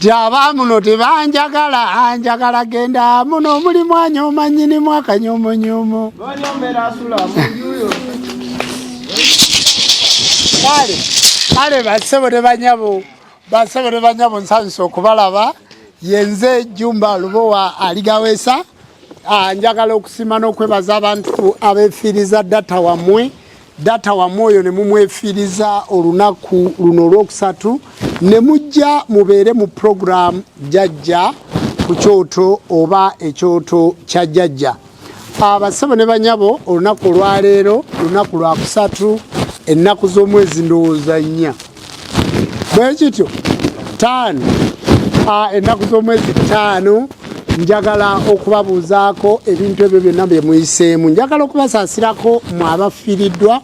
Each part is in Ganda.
Jaba muno tebanjagala anjagala genda muno muli mwanya omanyini mwaka nyomo nyomo. Bonyo mbera sula mujuyo. Kale, kale basebo de banyabo. Bansaba ne banyabo nsanyuse okubalaba yenze Jumba Lubowa aligawesa ah, njagala okusima n'okwebaza abantu abefiiriza data wamwe data wamwe oyo ne mumwefiiriza olunaku luno olwokusatu ne mujja mubeere mu programu jajja ku kyoto oba ekyoto kya jajja Abasebo ne banyabo olunaku olwaleero lunaku lwakusatu ennaku z'omwezi ndowooza nnya bwe kityo ttaano ennaku z'omwezi ttaano njagala okubabuuzaako ebintu ebyo byonna bye muyiseemu njagala okubasaasirako mu abafiiriddwa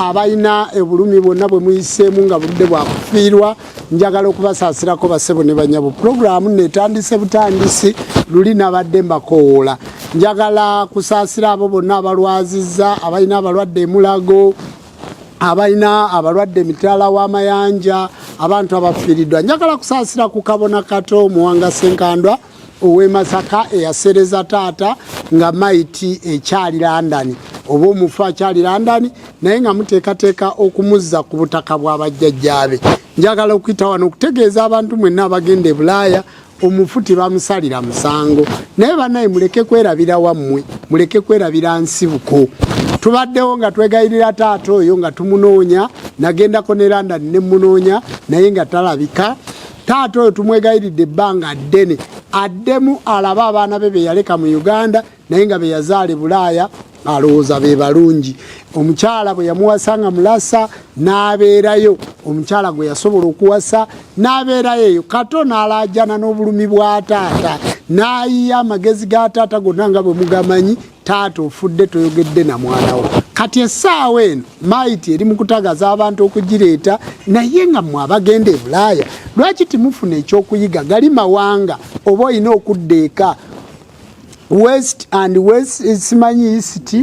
abalina obulumi bwonna bwe muyiseemu nga budde bwakufiirwa njagala okubasaasirako basebo ne banyabo pulogulaamu netandise butandisi luli nabadde mbakowoola njagala kusaasira abo bonna abalwazizza abalina abalwadde emulago abalina abalwadde emitala w'amayanja abantu abafiiriddwa njagala kusaasira ku kabona kato muwanga senkandwa ow'e Masaka eyasereza taata nga mayiti ekyali London oba omufu akyali London naye nga muteekateeka okumuzza ku butaka bwa bajjajjaabe. Njagala okuyita wano okutegeeza abantu mwenna abagenda e Bulaaya omufu tebamusalira musango naye banaye muleke kwerabira wammwe muleke kwerabira nsibuko tubaddewo nga twegayirira taata oyo nga tumunoonya nagendako ne London ne munoonya naye nga talabika taata oyo tumwegayiridde ebbanga ddene addemu alabe abaana be beyaleka mu uganda naye nga beyazaala ebulaaya alowooza be balungi omukyala bwe yamuwasa nga mulasa n'abeerayo omukyala gwe yasobola okuwasa n'abeerayo eyo kato n'alaajana n'obulumi bwa taata n'ayiya amagezi ga taata gonna nga bwe mugamanyi taata ofudde toyogedde na mwana wo kati essaawa eno maiti eri mukutagaza abantu okugireeta naye nga mwe abagenda ebulaaya lwaki timufuna ekyokuyiga gali mawanga oba olina okudda eka west and west eh, simanyi east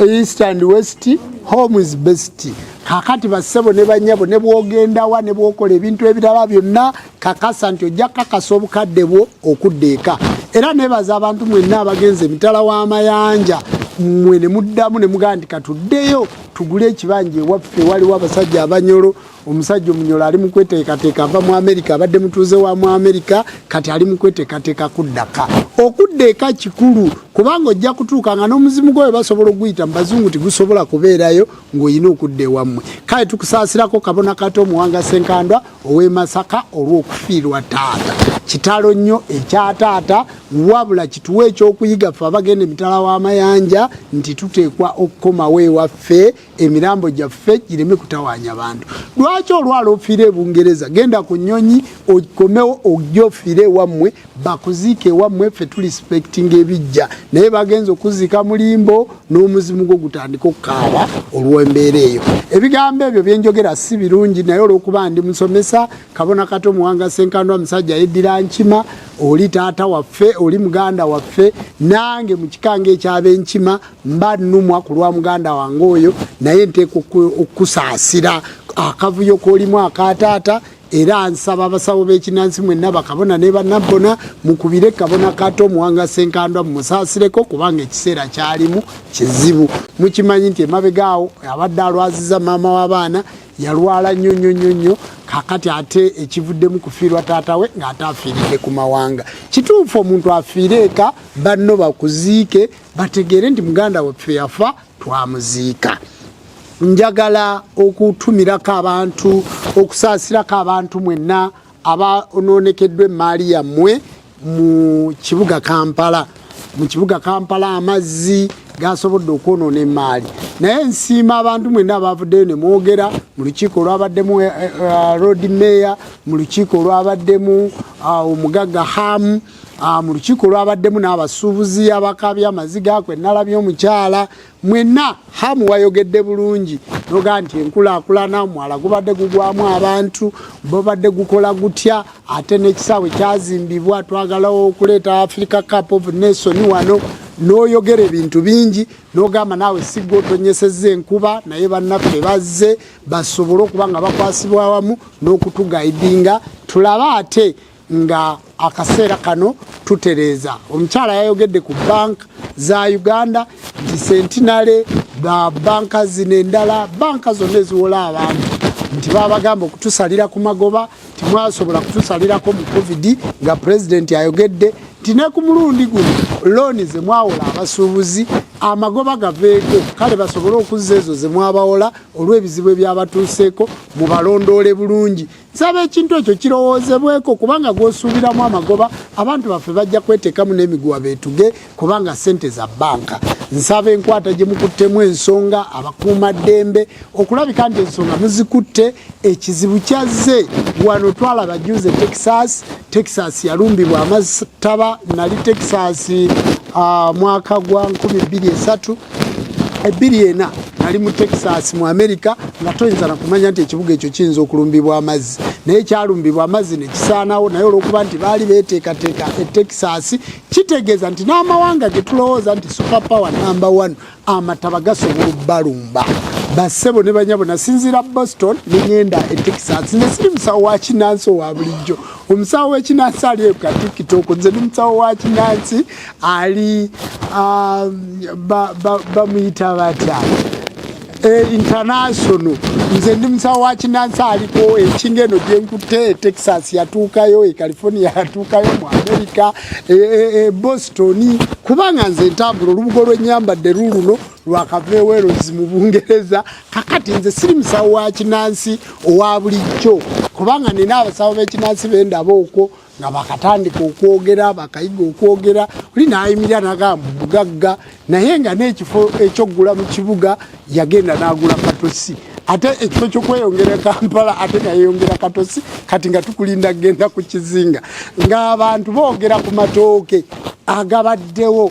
east and west home is best kakati bassebo ne banyabo ne bwogendawa ne bwokola ebintu ebirala byonna kakasa nti ojja kakasa obukadde bwo okudda eka era nebaza abantu mwenna abagenze emitala w'amayanja mwe ne muddamu ne mugamba nti katuddeyo tugule ekibanja ewaffe waliwo abasajja abanyolo omusajja omunyolo ali mukweteekateeka ava mu amerika abadde mutuuze wa mu amerika kati ali mukweteekateeka kuddaka okudda eka kikulu kubanga ojja kutuuka nga n'omuzimu gwawe basobola okuguyita mu bazungu tigusobola kubeerayo ng'olina okudda ewammwe kale tukusaasirako kabona kata omuwanga senkandwa ow'e Masaka olw'okufiirwa taata. Kitalo nnyo ekya taata, wabula kituwa ekyokuyiga ffe abagenda emitala w'amayanja nti tuteekwa okukomawo ewaffe emirambo gyaffe gireme kutawaanya bantu. Lwaki olwala ofiire e Bungereza? Genda ku nnyonyi okomewo ojje ofiire ewammwe. bakuziika ewammwe ffe tulispectinga ebijja naye bagenza okuziika mu limbo n'omuzimu gwo gutandika okukaaba olw'embeera eyo ebigambo ebyo byenjogera si birungi naye olw'okuba ndi musomesa kabona kato muwanga senkandwa musajja yeddira nkima oli taata waffe oli muganda waffe nange mu kikanga ekyaba enkima mba nnumwa ku lwa muganda wange oyo naye nteeka okukusaasira akavuyo kolimu akataata era nsaba abasawo b'ekinansi mwenna bakabona ne banabbona mukubire kabona kato omuwanga senkandwa mumusaasireko kubanga ekiseera kyalimu kizibu mukimanyi nti emabega awo abadde alwaziza maama w'abaana yalwala nnyo nnyo nnyo nnyo kakati ate ekivuddemu kufiirwa taata we ng'ate afiiridde ku mawanga kituufu omuntu afiire eka banno bakuziike bategeere nti muganda waffe yafa twamuziika njagala okutumirako abantu okusaasirako abantu mwenna abanonekeddwa emmaali yammwe mu kibuga kampala mu kibuga kampala amazzi gasobodde okwonoona emmaali naye nsiima abantu mwenna abavuddeyo ne mwogera mu lukiiko olwabaddemu eh, eh, road mayor mu lukiiko olwabaddemu ah, omugagga hamu Ah, mu lukiiko lwabaddemu n'abasuubuzi abakaabya amaziga kwe nalabye omukyala mwenna hamu wayogedde bulungi noga nti enkulaakulana omwala gubadde gugwamu abantu babadde gukola gutya ate n'ekisaawe kyazimbibwa twagalawo okuleeta africa cup of nation wano n'oyogera ebintu bingi n'ogamba naawe sigga otonyeseza enkuba naye bannaffe bazze basobole okuba nga bakwasibwa wamu n'okutugaidinga tulabe ate nga akaseera kano tutereeza omukyala yayogedde ku banka za uganda nti sentinale ba banka zino endala banka zonna eziwola abantu nti babagamba okutusalira ku magoba timwasobola kutusalirako mu covid nga pulezidenti ayogedde nti ne ku mulundi guno looni zemwawola abasuubuzi amagoba gaveeko kale basobole okuzza ezo zemwabawola olw'ebizibu ebyabatuuseeko mubalondoole bulungi nsaba ekintu ekyo kirowoozebweko kubanga gwosuubiramu amagoba abantu baffe bajja kwetekamu n'emiguwa betuge kubanga sente za banka nsaba enkwata gye mukuttemu ensonga abakuuma ddembe okulabika nti ensonga muzikutte ekizibu kyazze wano twalaba juze texas texas yalumbibwa amataba nali texas uh, mwaka gwa 23 ebbiri ena nali mu texas mu america nga toyinza nakumanya nti ekibuga ekyo kiyinza okulumbibwa amazzi naye kyalumbibwa amazzi nekisaanawo naye olwokuba nti baali beteekateeka e texas kitegeeza nti n'amawanga getulowooza nti super power number one amataba gasobola okubalumba basebo ne banyabo nasinzira boston nengenda e texas nze siri musawo wa kinansi owa bulijjo omusawo wekinansi ali eka tiktok nze ni musawo wa kinansi ali ah, bamuyita batya eh, international nze ndi musawo wa kinansi aliko enkinga eno gyenkutte e texas yatuukayo e california yatuukayo mu america e, e, e boston kubanga nze ntambula olubugo lwenyambadde luluno lwakavewerozi mu bungereza kakati nze siri musawo wa kinansi owa bulijjo kubanga nina abasawo bekinansi bendaba okwo nga bakatandika okwogera bakayiga okwogera oli nayimirira nagamba mugagga naye nga n'ekifo ekyokugula mu kibuga yagenda n'agula katosi ate ekifo kyokweyongera e kampala ate nga yeyongera katosi kati nga tukulinda kugenda ku kizinga ng'abantu boogera ku matooke agabaddewo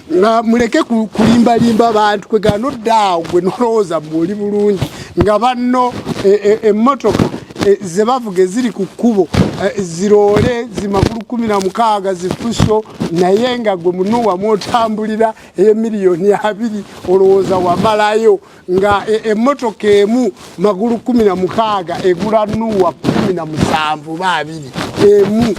nga muleke kulimbalimba abantu kwegana odda awo gwe nolowooza muoli bulungi nga banno emmotoka e, e, e, zebavuga eziri ku kkubo ziroole zimakulu kumi na mukaaga zifuso naye nga gwe munuwamu otambulira eyemiliyoni abiri olowooza wamalayo nga e, emotoka emu magulu kumi na mukaaga egula nuwa kumi na musanvu baabiri emu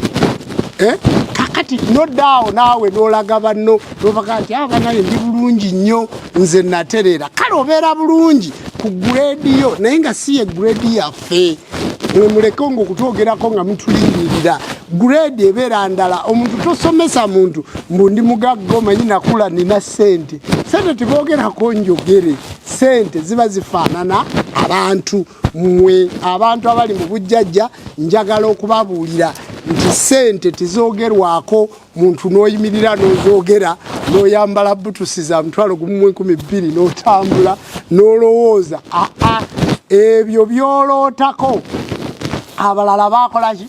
eh? kakati noddaawo naawe nolaga banno nobaga nti abanaye ah, ndi bulungi nnyo nze natereera kale obeera bulungi ku guredi yo naye nga si ye guredi yafe waffe mwemuleke nga okutwogerako nga mutulindirira grade ebeera ndala omuntu tosomesa muntu mbu ndi mugagga omanyi nakula nina sente sente tebogerako njogere sente ziba zifaanana abantu mwe abantu abali mu bujjajja njagala okubabuulira nti sente tezogerwako muntu n'oyimirira n'ozoogera n'oyambala butusi za mutwalo gumu mu enkumi bbiri n'otambula n'olowooza aa ebyo byolootako abalala baakolaki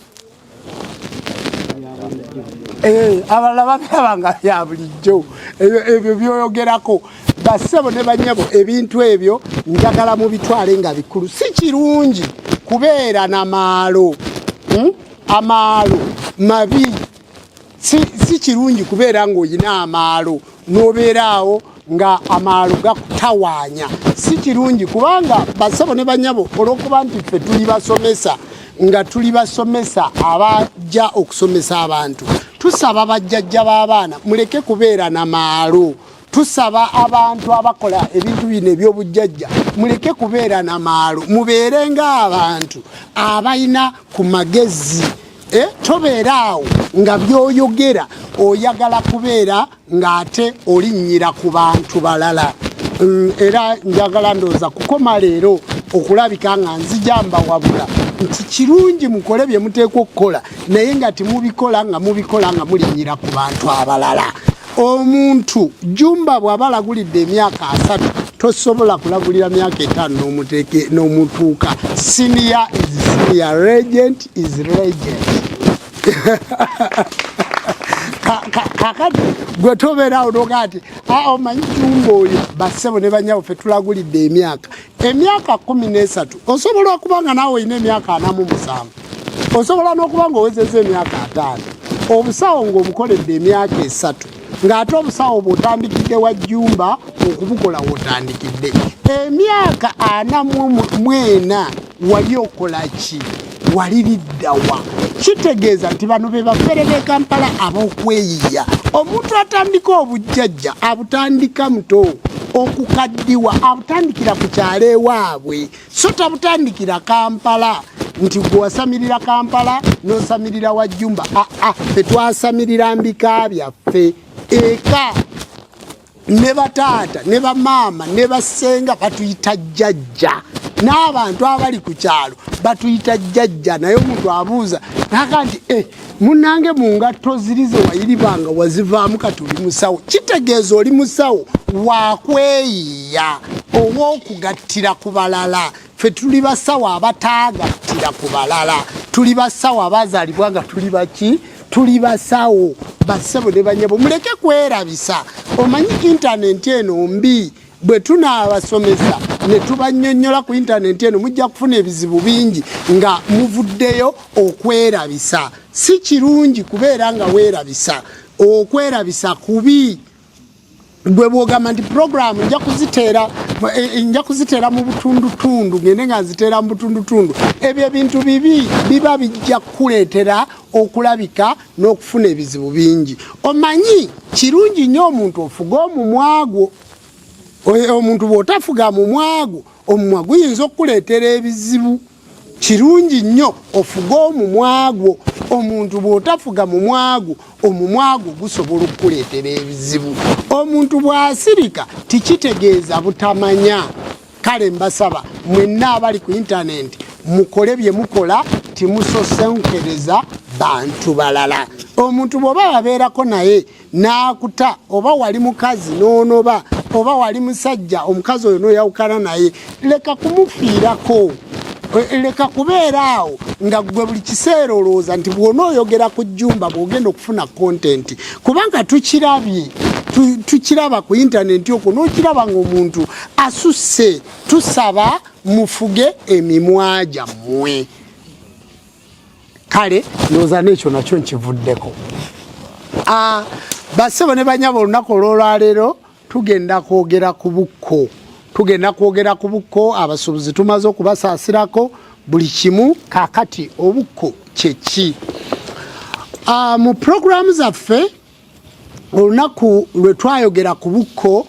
eh, abalala babiraba nga bya bulijjo ebyo byoyogerako basebo ne banyabo ebintu ebyo njagala mu bitwale nga bikulu si kirungi kubeera na maalo hmm? amaalo mabi si, si kirungi kubeera ng'olina amaalo n'obeeraawo nga amaalo gakutawaanya si kirungi kubanga basabo ne banyabo olw'okuba nti ffe tuli basomesa nga tuli basomesa abajja okusomesa abantu tusaba bajjajja b'abaana muleke kubeera na maalo tusaba abantu abakola ebintu bino ebyobujjajja muleke kubeera na maalo mubeere ngaabantu abalina ku magezi eh, tobeera awo nga byoyogera oyagala kubeera ng'ate olinnyira ku bantu balala mm, era njagala ndowooza kukoma leero okulabika nga nzija mbawabula nti kirungi mukole bye muteekwa okukola naye nga temubikola nga mubikola nga mulinnyira ku bantu abalala omuntu jumba bwaba alagulidde emyaka asatu tosobola kulagulira myaka etaano n'omuteeke n'omutuuka senior is senior regent is regent kakati gwe tobeerawo noga nti ah, omanyi jumba oyo bassebo ne banyawo fe tulagulidde emyaka emyaka kumi n'esatu osobola okuba nga naawe olina emyaka anamu musanvu osobola n'okuba nga owezeza emyaka ataano obusawo ng'obukoledde emyaka esatu ng'ate obusawo bwotandikidde wa jjumba okubukola wotandikidde emyaka ana mwena wali okola ki wali liddawa kitegeeza nti bano be bafere b'e kampala ab'okweyiya omuntu atandika obujjajja abutandika muto okukaddiwa abutandikira ku kyalo ewaabwe so tabutandikira kampala nti gwe wasamirira kampala n'osamirira wa jjumba aa ah, ah, fetwasamirira mbika byaffe eka ne bataata ne bamaama ne basenga batuyita jjajja n'abantu abali ku kyalo batuyita jjajja naye omuntu abuuza naga nti e eh, munange mu ngatto ziri ze wayiribanga wazivaamu kati oli musawo kitegeeza oli musawo wakweyiya ow'okugattira ku balala ffe tuli basawo abataagattira ku balala tuli basawo abazaalibwa nga tuli baki tuli basawo basebo ne banyabo muleke kwerabisa omanyi intanenti eno mbi bwe tunaabasomesa ne tubanyonyola ku intanenti eno mujja kufuna ebizibu bingi nga muvuddeyo okwerabisa si kirungi kubeera nga weerabisa okwerabisa kubi gwe bwogamba nti programu nja kuziteera e, e, nja kuziteera mu butundutundu ngende nga nziteera mu butundutundu ebyo ebintu bibi biba bijja kukuleetera okulabika n'okufuna ebizibu bingi omanyi kirungi nnyo omuntu ofuga omumwa gwo omuntu bw'otafuga mumwa gwo omumwa guyinza okukuleetera ebizibu kirungi nnyo ofuge omumwagwo omuntu bw'otafuga mumwagwo omumwagwo gusobola okukuleetera ebizibu omuntu bw'asirika tikitegeeza butamanya kale mbasaba mwenna abali ku intanenti mukole bye mukola timusosenkereza bantu balala omuntu bw'oba wabeerako naye n'akuta oba wali mukazi n'onoba oba wali musajja omukazi oyo n'oyawukana naye leka kumufiirako e, leka kubeera awo nga gwe buli kiseera olowooza nti bwona oyogera ku jjumba bwogenda okufuna kontenti kubanga tukirabye tukiraba ku intaneti okwo n'okiraba ng'omuntu asusse tusaba mufuge emimwa gyammwe kale ndowooza n'ekyo nakyo nkivuddeko ah, basebo ne banyaba olunaku olwolwaleero tugenda kwogera ku bukko tugenda kwogera ku bukko abasuubuzi tumaze okubasaasirako buli kimu kakati obukko kyeki ah, mu puroguramu zaffe olunaku lwe twayogera ku bukko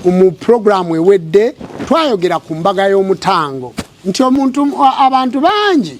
mu puroguramu ewedde twayogera ku mbaga y'omutango nti omuntu abantu bangi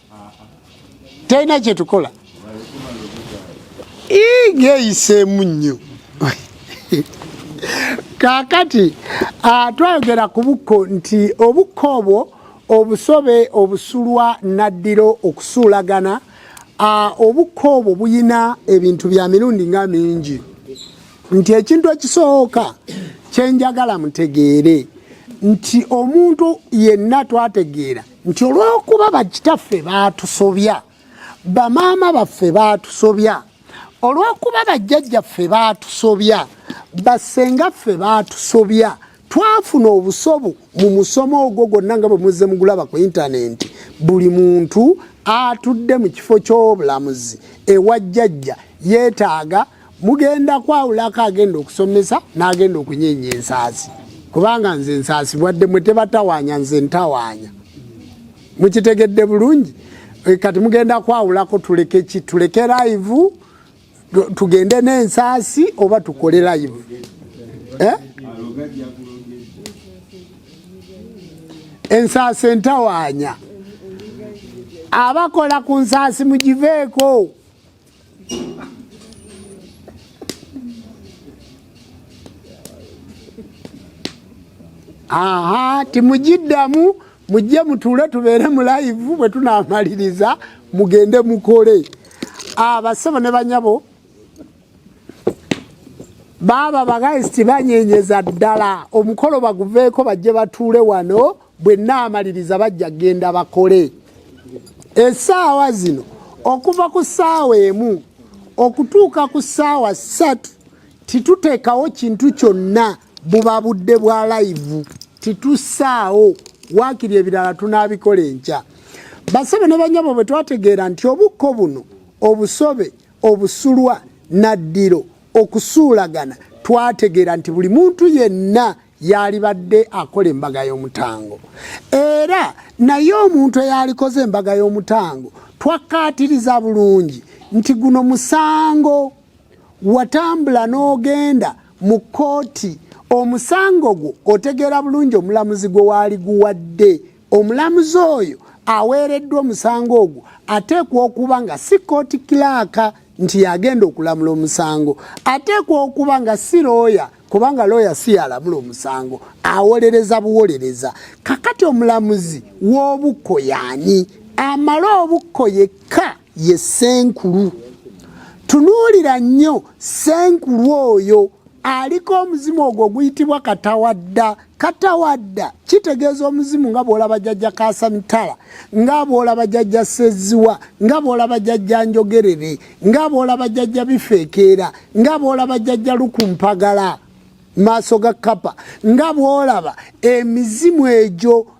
talina kyetukola geyiseemu nnyo kakati ah, twayogera ku bukko nti obukko obwo obusobe obusulwa naddiro okusuulagana ah, obukko obwo buyina ebintu bya mirundi nga mingi nti ekintu ekisooka kyenjagala mutegeere nti omuntu yenna twategeera nti olw'okuba bakitaffe baatusobya bamaama baffe baatusobya olw'okuba bajjajjaffe baatusobya bassengaffe baatusobya twafuna obusobu mu musomo ogwo gwonna nga bwe muzze mugulaba ku intanenti buli muntu atudde mu kifo ky'obulamuzi ewa jjajja yeetaaga mugenda kwawulako agenda okusomesa n'agenda okunyeenya ensaasi kubanga nze ensaasi bwadde mwe tebatawaanya nze ntawaanya mukitegedde bulungi eh, kati mugenda kwawulako tuleke ki tuleke live tugende n'ensaasi oba tukole live eh? ensaasi entawaanya abakola ku nsaasi mugiveeko aha timugiddamu mujje mutuule tubeere mu layivu bwe tunaamaliriza mugende mukole abasebo ah, ne banyabo baaba bagaisi tibanyenyeza ddala omukolo baguveeko bajje batuule wano bwe nnaamaliriza bajja genda bakole esaawa zino okuva ku ssaawa emu okutuuka ku ssaawa ssatu tituteekawo kintu kyonna buba budde bwa layivu titussaawo waakiri ebirala tunaabikola enkya basebe ne banyabo bwe twategeera nti obukko buno obusobe obusulwa naddiro okusuulagana twategeera nti buli muntu yenna yaalibadde akola embaga y'omutango era naye omuntu eyaalikoze embaga y'omutango twakkaatiriza bulungi nti guno musango watambula n'ogenda mu kkooti omusango gwo otegeera bulungi omulamuzi gwe waali guwadde omulamuzi oyo aweereddwa omusango ogwo ateekwa okuba nga si kkooti kilaaka nti yagenda okulamula omusango ateekwa okuba nga si looya kubanga looya si yalamula omusango awolereza buwolereza kakati omulamuzi w'obukko yaani amale obukko yekka ye senkulu tunuulira nnyo senkulu oyo aliko omuzimu ogwo oguyitibwa katawadda katawadda kitegeeza omuzimu nga bwolaba jajja kasamitala nga bwolaba jajja seziwa nga bwolaba jajja njogerere nga bwolaba jajja bifeekeera nga bwolaba jajja lukumpagala maaso ga kapa nga bwolaba emizimu egyo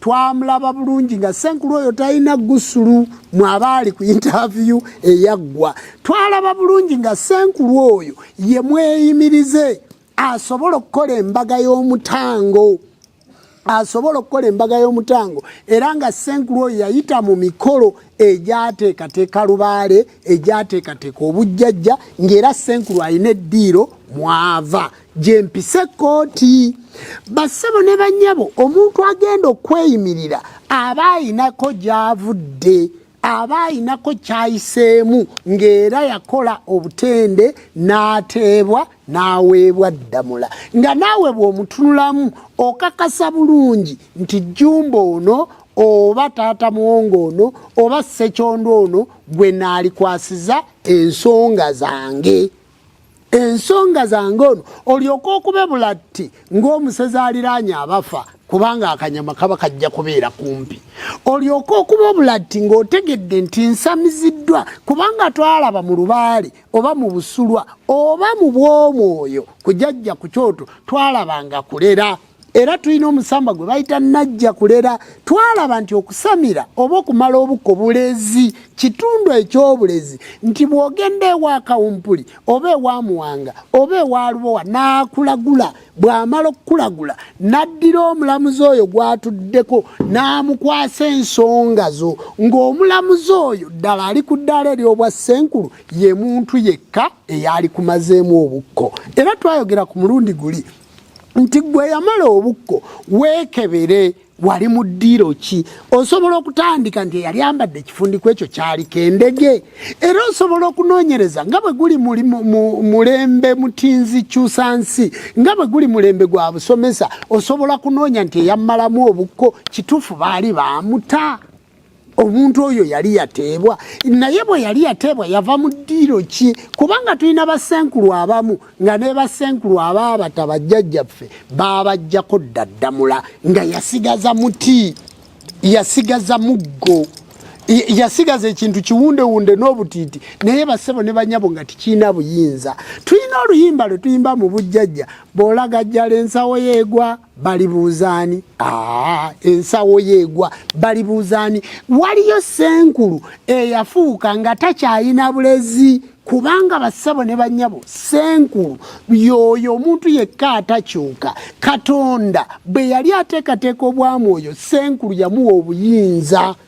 twamulaba bulungi nga senkulu oyo talina gusulu mwabaali ku interview eyaggwa twalaba bulungi nga senkulu oyo ye mweyimirize asobola okukola embaga y'omutango asobola okukola embaga y'omutango era nga senkulu oyo yayita mu mikolo egyateekateeka lubaale egyateekateeka obujjajja ng'era senkulu alina eddiiro mwava gyempise kkooti bassebo ne bannyabo omuntu agenda okweyimirira aba ayinako gy'avudde aba ayinako kyayiseemu ng'era yakola obutende n'ateebwa n'aweebwa ddamula nga naawe bw'omutunulamu okakasa bulungi nti jjumba ono oba taata muwongo ono oba ssekyondo ono gwe naalikwasiza ensonga zange ensonga zange ono olyoka okube bulatti ng'omusezi aliraanye abafa kubanga akanyama kaba kajja kubeera kumpi olyoka okuba obulatti ng'otegedde nti nsamiziddwa kubanga twalaba mu lubaale oba mu busulwa oba mu bw'omwoyo kujajja ku kyoto twalaba nga kulera era tulina omusamba gwe bayita najja kulera twalaba nti okusamira oba okumala obuko bulezi kitundu ekyobulezi nti bwogenda ewa kawumpuli oba ewa muwanga oba ewa lubowa nakulagula bwamala okukulagula naddira omulamuzi oyo gwatuddeko namukwasa ensonga zo ng'omulamuzi oyo ddala ali ku ddaala eryobwa ssenkulu ye muntu yekka eyaali kumazeemu obukko era twayogera ku mulundi guli nti gwe yamala obukko weekebere wali mu ddiiro ki osobola okutandika nti eyali ambadde ekifundiko ekyo kyaliko endege era osobola okunoonyereza nga bwe guli mulembe mutinzi kyusa nsi nga bwe guli mulembe gwa busomesa osobola kunoonya nti eyammalamu obukko kituufu baali baamuta omuntu oyo yali yateebwa naye bwe yali yateebwa yava mu ddiiro ki kubanga tulina basenkulu abamu nga ne basenkulu abaabata bajjajjaffe baabajjako ddaddamula nga yasigaza muti yasigaza muggo yasigaza ekintu kiwundewunde n'obutiiti naye basebo ne banyabo nga tikirina buyinza tulina oluyimba lwe tuyimba mu bujjajja bw'olagajjala ensawo yeegwa balibuuza ani ah, ensawo yeegwa balibuuza ani waliyo senkulu eyafuuka nga takyayina bulezi kubanga bassabo ne bannyabo senkulu yooyo omuntu yekka atakyuka katonda bwe yali ateekateeka obwamwoyo senkulu yamuwa obuyinza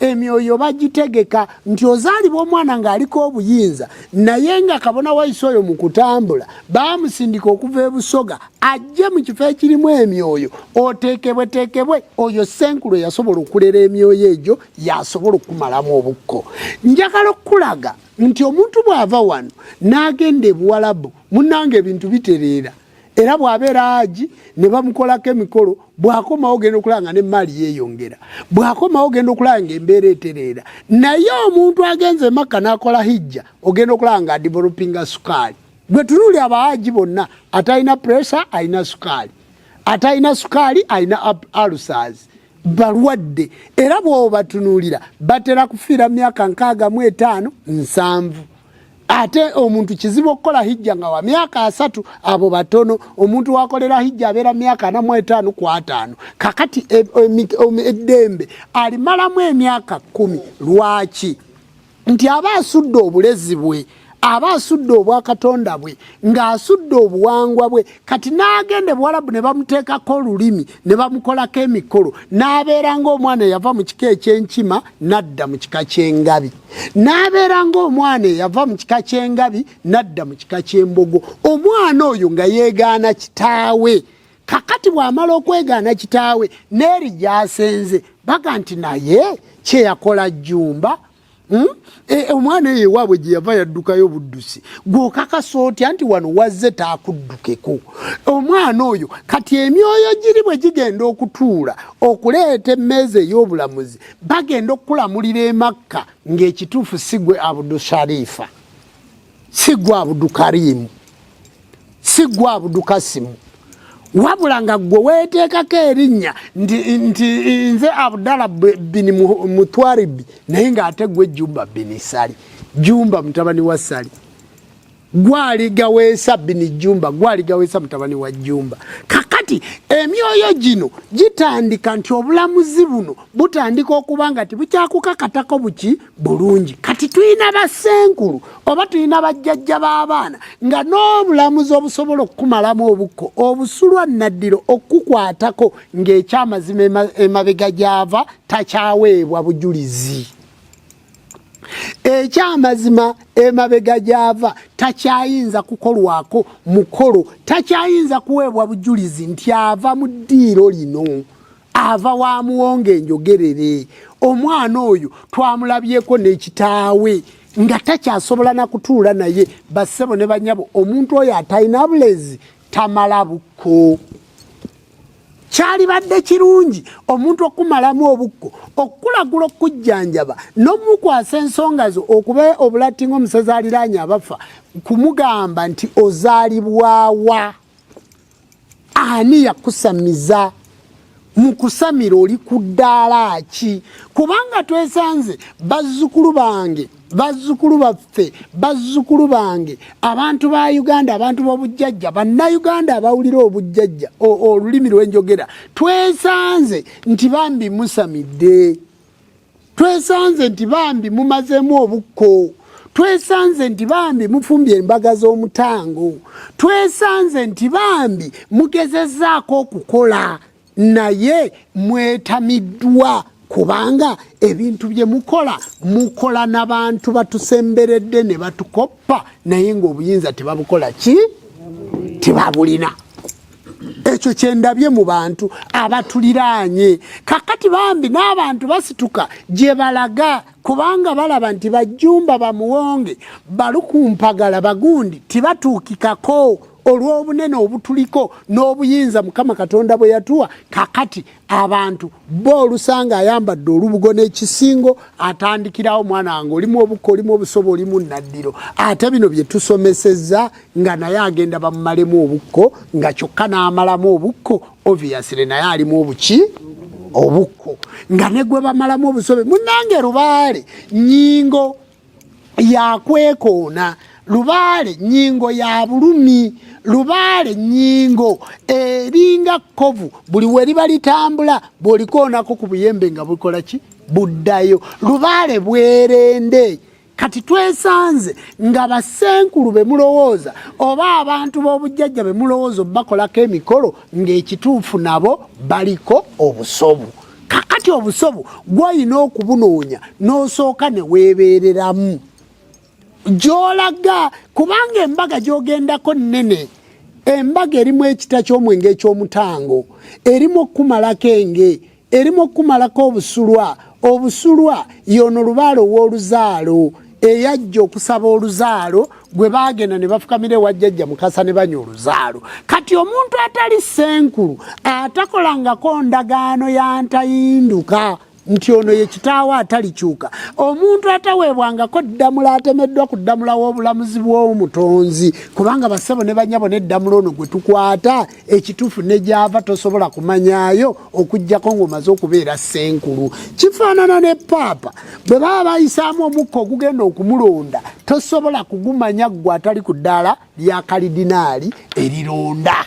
emyoyo bagitegeka nti ozaalibwa omwana ng'aliko obuyinza naye nga kabona waise oyo mu kutambula baamusindika okuva ebusoga ajje mu kifo ekirimu emyoyo oteekebweteekebwe oyo senkulu eyasobola okulera emyoyo egyo yasobola okukumalamu obukko njagala okukulaga nti omuntu bw'ava wano n'agenda ebuwalabu munanga ebintu bitereera era bw'abeera aji ne bamukolako emikolo bw'akomawo ogenda okulaba nga n'emmaali yeeyongera bw'akomawo ogenda okulaba nga embeera etereera naye omuntu agenze emakka n'akola hijja ogenda okulaba nga adivolopinga sukaali gwe tunuuli abaaji bonna atalina puresa alina sukaali atalina sukaali alina alusaazi balwadde era bw'obatunuulira batera kufiira myaka nkaaga mu etaano nsanvu ate omuntu kizibu okukola hijja nga wa myaka asatu abo batono omuntu wakolera hijja abeera myaka anamu etaano ku ataano kakati e, e, e, eddembe alimalamu emyaka kkumi lwaki nti aba asudde obulezi bwe aba asudde obwakatonda bwe ng'asudde obuwangwa bwe kati n'agenda ebuwalabu ne bamuteekako olulimi ne bamukolako emikolo n'abeera ng'omwana eyava mu kika ekyenkima n'adda mu kika ky'engabi n'abeera ng'omwana eyava mu kika ky'engabi n'adda mu kika ky'embogo omwana oyo nga yeegaana kitaawe kakati bw'amala okwegaana kitaawe n'eri gy'asenze baga nti naye kye yakola jjumba hmm? e, e, omwana eyo ewaabwe gye yava yaddukayo buddusi gw'okakasa otya nti wano wazze taakuddukeko omwana oyo kati emyoyo giri bwe gigenda okutuula okuleeta emmeeza ey'obulamuzi bagenda okukulamulira emakka ng'ekituufu si gwe abudu sharifa si gwe abudu karimu si gwe abudu kasimu wabula nga gwe weeteekako erinnya nti nze abudala bini mutwaribi naye ng'ate gwe jumba bini sali jumba mutabani wa sali gwaligaweesa bini jumba gwaligaweesa mutabani wa jumba kakati emyoyo gino gitandika nti obulamuzi buno butandika okuba nga tibukyakukakatako buki bulungi kati tulina basenkulu oba tulina bajjajja b'abaana nga n'obulamuzi obusobola okukumalamu obukko obusulwa naddiro okukukwatako ng'ekyamazima emabega gyava takyaweebwa bujulizi ekyamazima emabega gyava takyayinza kukolwako mukolo takyayinza kuweebwa bujulizi nti ava mu ddiiro lino ava wa muwonga enjogerere omwana oyo twamulabyeko n'ekitaawe nga takyasobola na kutuula naye bassebo ne banyabo omuntu oyo atalina bulezi tamala bukko kyalibadde kirungi omuntu okumalamu obukko okukulagula okukujjanjaba n'omukwasa ensonga zo okuba obulatti ng'omusezi aliraanye abafa kumugamba nti ozaalibwawa ani yakusamiza mu kusamira oli ku ddaala ki kubanga twesanze bazzukulu bange bazzukulu baffe bazzukulu bange abantu ba uganda abantu b'obujjajja bannayuganda abawulira obujjajja olulimi lwenjogera twesanze nti bambi musamidde twesanze nti bambi mumazeemu obukko twesanze nti bambi mufumbye embaga z'omutango twesanze nti bambi mugezezaako okukola naye mwetamiddwa kubanga ebintu bye mukola mukola nabantu batusemberedde ne batukoppa naye ngaobuyinza tebabukola ki tebabulina ekyo kyendabye mu bantu abatuliraanye kakati bambi n'abantu basituka gye balaga kubanga balaba nti bajjumba bamuwonge balukumpagala bagundi tibatuukikako olw'obunene obutuliko n'obuyinza mukama katonda bwe yatuwa kakati abantu bo olusanga ayambadde olubugo n'ekisingo atandikirawo mwana wange olimu obukka olimu obusobo olimu naddiro ate bino bye tusomesezza nga naye agenda bamumalemu obukko nga kyokka n'amalamu obukko obviously naye alimu obuki obukko nga ne gwe bamalamu obusobe munange lubaale nyingo yakwekoona lubaale nyingo ya bulumi lubaale nyingo eringa kovu buli weriba litambula bwolikoonako ku buyembe nga bukola ki buddayo lubaale bwerende kati twesanze nga basenkulu be mulowooza oba abantu b'obujjajja be mulowooza obakolako emikolo ng'ekituufu nabo baliko obusobu kakati obusobo gwolina okubunoonya n'osooka ne weebeereramu gy'olaga kubanga embaga gy'ogendako nnene embaga erimu ekita ky'omwenge eky'omutango erimu okukumalako enge erimu okukumalako obusulwa obusulwa y'ono lubaale ow'oluzaalo eyajja okusaba oluzaalo gwe baagenda ne bafukamira ewa jjajja mukasa ne banywa oluzaalo kati omuntu atali senkulu atakolangako ndagaano ya ntayinduka nti ono ye kitaawo atalikyuka omuntu ataweebwangako ddamula atemeddwa ku ddamula w'obulamuzi bw'omutonzi kubanga bassebo ne banyabo n'eddamula ono gwe tukwata ekituufu ne gyava tosobola kumanyaayo okugyako ng'omaze okubeera ssenkulu kifaanana ne paapa bwe baba bayisaamu omukka ogugenda okumulonda tosobola kugumanya ggwe atali ku ddaala lya kalidinaali erironda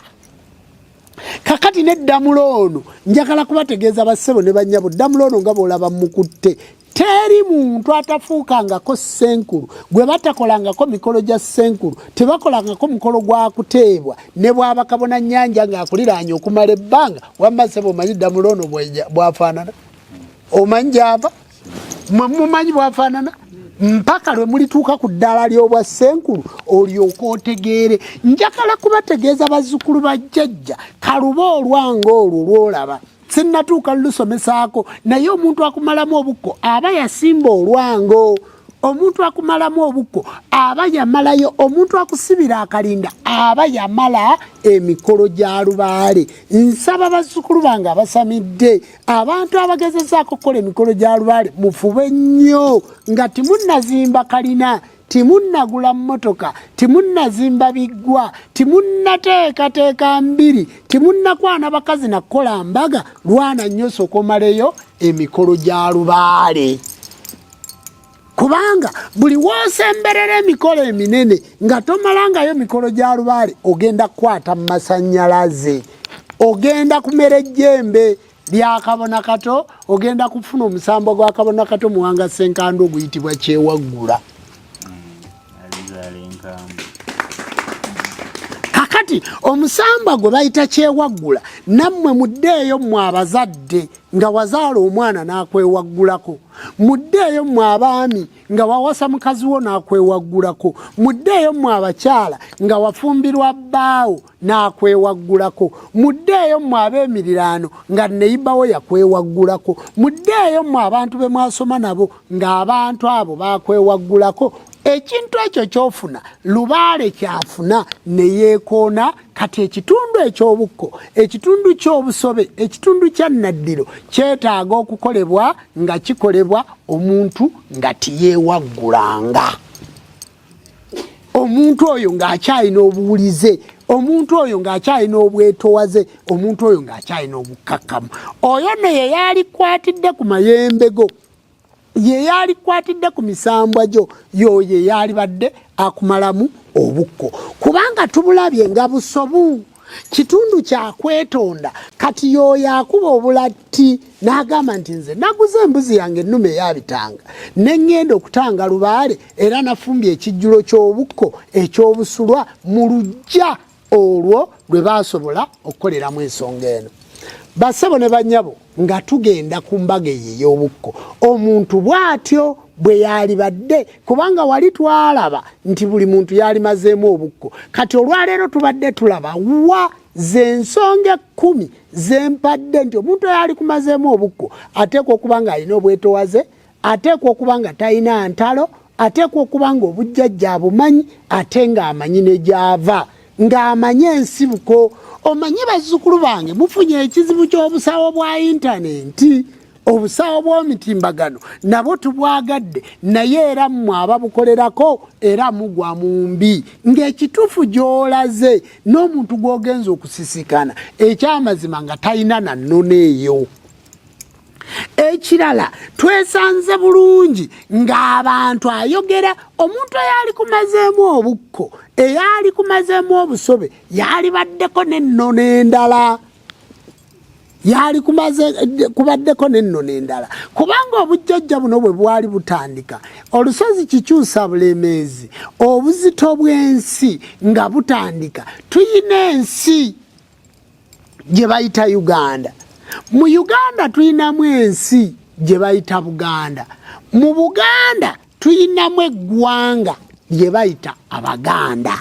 kakati ne ddamula ono njagala kubategeeza bassebo ne bannyabo ddamula ono nga boolaba mukutte teri muntu atafuukangako ssenkulu gwe batakolangako mikolo gya ssenkulu tebakolangako mukolo gwa kuteebwa ne bwaba kabona nyanja ng'akuliraanya okumala ebbanga wamma sebo omanyi ddamula ono bwafaanana omanyi gyava mwe mumanyi bwafaanana mpaka lwe mulituuka ku ddaala ly'obwa ssenkulu olyoka otegeere njagala kubategeeza bazzukulu ba jjajja kaluba olwanga olwo lwolaba sinnatuuka lulusomesaako naye omuntu akumalamu obukko aba yasimba olwango omuntu akumalamu obukko aba yamalayo omuntu akusibira akalinda aba yamala emikolo gya lubaale nsaba bazzukulu bange abasamidde abantu abagezezaako okukola emikolo gya lubaale mufube nnyo nga timunnazimba kalina timunnagula mmotoka timunnazimba biggwa timunnateekateeka mbiri timunnakwana bakazi nakukola mbaga lwana nnyo sokomaleyo emikolo gya lubaale kubanga buli wosemberera emikolo eminene nga tomalangayo mikolo gya lubaale ogenda kukwata mu masanyalaze ogenda kumera ejjembe lyakabona kato ogenda kufuna omusambo gwa kabona kato muwanga senkandu oguyitibwa kyewaggula kakati omusamba gwe bayita kyewaggula nammwe muddeeyo mmwe abazadde nga wazaala omwana n'akwewaggulako muddeeyo mmwe abaami nga wawasa mukazi wo n'akwewaggulako muddeeyo mmwe abakyala nga wafumbirwa bbaawo n'akwewaggulako muddeeyo mmwe ab'emiriraano nga neyibawo yakwewaggulako muddeeyo mmwe abantu be mwasoma nabo ng'abantu abo bakwewaggulako ekintu ekyo kyofuna lubaale kyafuna ne yeekoona kati ekitundu eky'obukko ekitundu ky'obusobe ekitundu kya nnaddiro kyetaaga okukolebwa nga kikolebwa omuntu nga tiyeewaggulanga omuntu oyo ng'akyalina obuwulize omuntu oyo ng'akyalina obwetowaze omuntu oyo ng'akyalina obukkakkamu oyo no ye yaalikwatidde ku mayembe go ye yaalikwatidde ku misambwa gyo yoyo eyaalibadde akumalamu obukko kubanga tubulabye nga busobu kitundu kyakwetonda kati yoyo akuba obulatti n'agamba nti nze naguze embuzi yange ennume eyabitanga ne ŋŋenda okutanga lubaale era nafumbye ekijjulo ky'obukko eky'obusulwa mu lujja olwo lwe baasobola okukoleramu ensonga eno bassebo ne bannyabo nga tugenda ku mbaga eyo ey'obukko omuntu bw'atyo bwe yaalibadde kubanga wali twalaba nti buli muntu yaalimazeemu obukko kati olwaleero tubadde tulaba wa zensonga ekkumi zempadde nti omuntu eyaalikumazeemu obukko ateekwa okuba ng'alina obwetowaze ateekwa okuba nga talina ntalo ateekwa okuba nga obujjajja abumanyi ate ng'amanyi ne gy'ava ng'amanyi ensibuko omanyi bazzukulu bange mufunye ekizibu ky'obusawo bwa intanenti obusawo bw'omitimbagano nabwo tubwagadde naye era mmwe ababukolerako era mugwa mu mbi ng'ekituufu gy'olaze n'omuntu gw'ogenza okusisikana ekyamazima nga talina na nnono eyo ekirala twesanze bulungi ng'abantu ayogera omuntu eyali kumazeemu obukko eyali kumazeemu obusobe yalibaddeko nennono endala yali kumaze kubaddeko nennono endala kubanga obujjajja buno bwe bwali butandika olusozi kikyusa bulemeezi obuzito bw'ensi nga butandika tuyina ensi gye bayita uganda mu uganda tulinamu ensi gye bayita buganda mu buganda tulinamu eggwanga lye bayita abaganda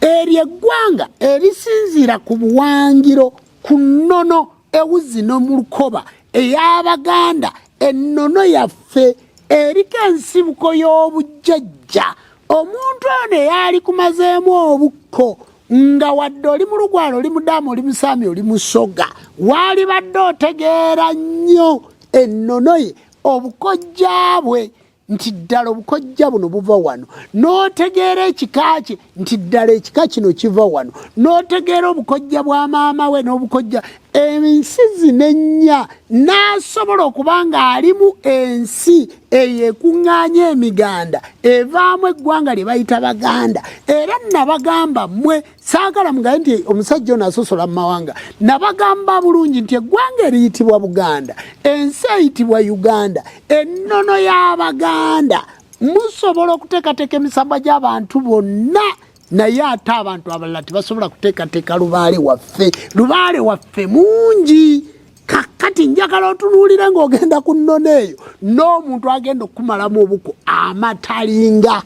eryo eggwanga erisinziira ku buwangiro ku nnono ewuzi no mu lukoba ey'abaganda ennono yaffe eriko ensibuko y'obujjajja omuntu ono eyaali kumazeemu obukko nga wadde oli mulugwala oli mudamu oli musaami oli musoga waalibadde otegeera nnyo ennono ye obukojja bwe nti ddala obukojja buno buva wano n'otegeera ekika kye nti ddala ekika kino kiva wano n'otegeera obukojja bwa maama we n'obukojja ensi zino ennya n'asobola okuba ng'alimu ensi eyo ekuŋŋaanya emiganda evaamu eggwanga lye bayita baganda era nabagamba mmwe saagala mugabe nti omusajja ono asosola mu mawanga nabagamba bulungi nti eggwanga eriyitibwa buganda ensi eyitibwa uganda ennono y'abaganda musobola okuteekateeka emisambwa gy'abantu bonna naye ate abantu abalala tebasobola kuteekateeka lubaale waffe lubaale waffe mungi kakati njagala otunuulire ng'ogenda ku nnono eyo n'omuntu agenda okukumalamu obuko amatalinga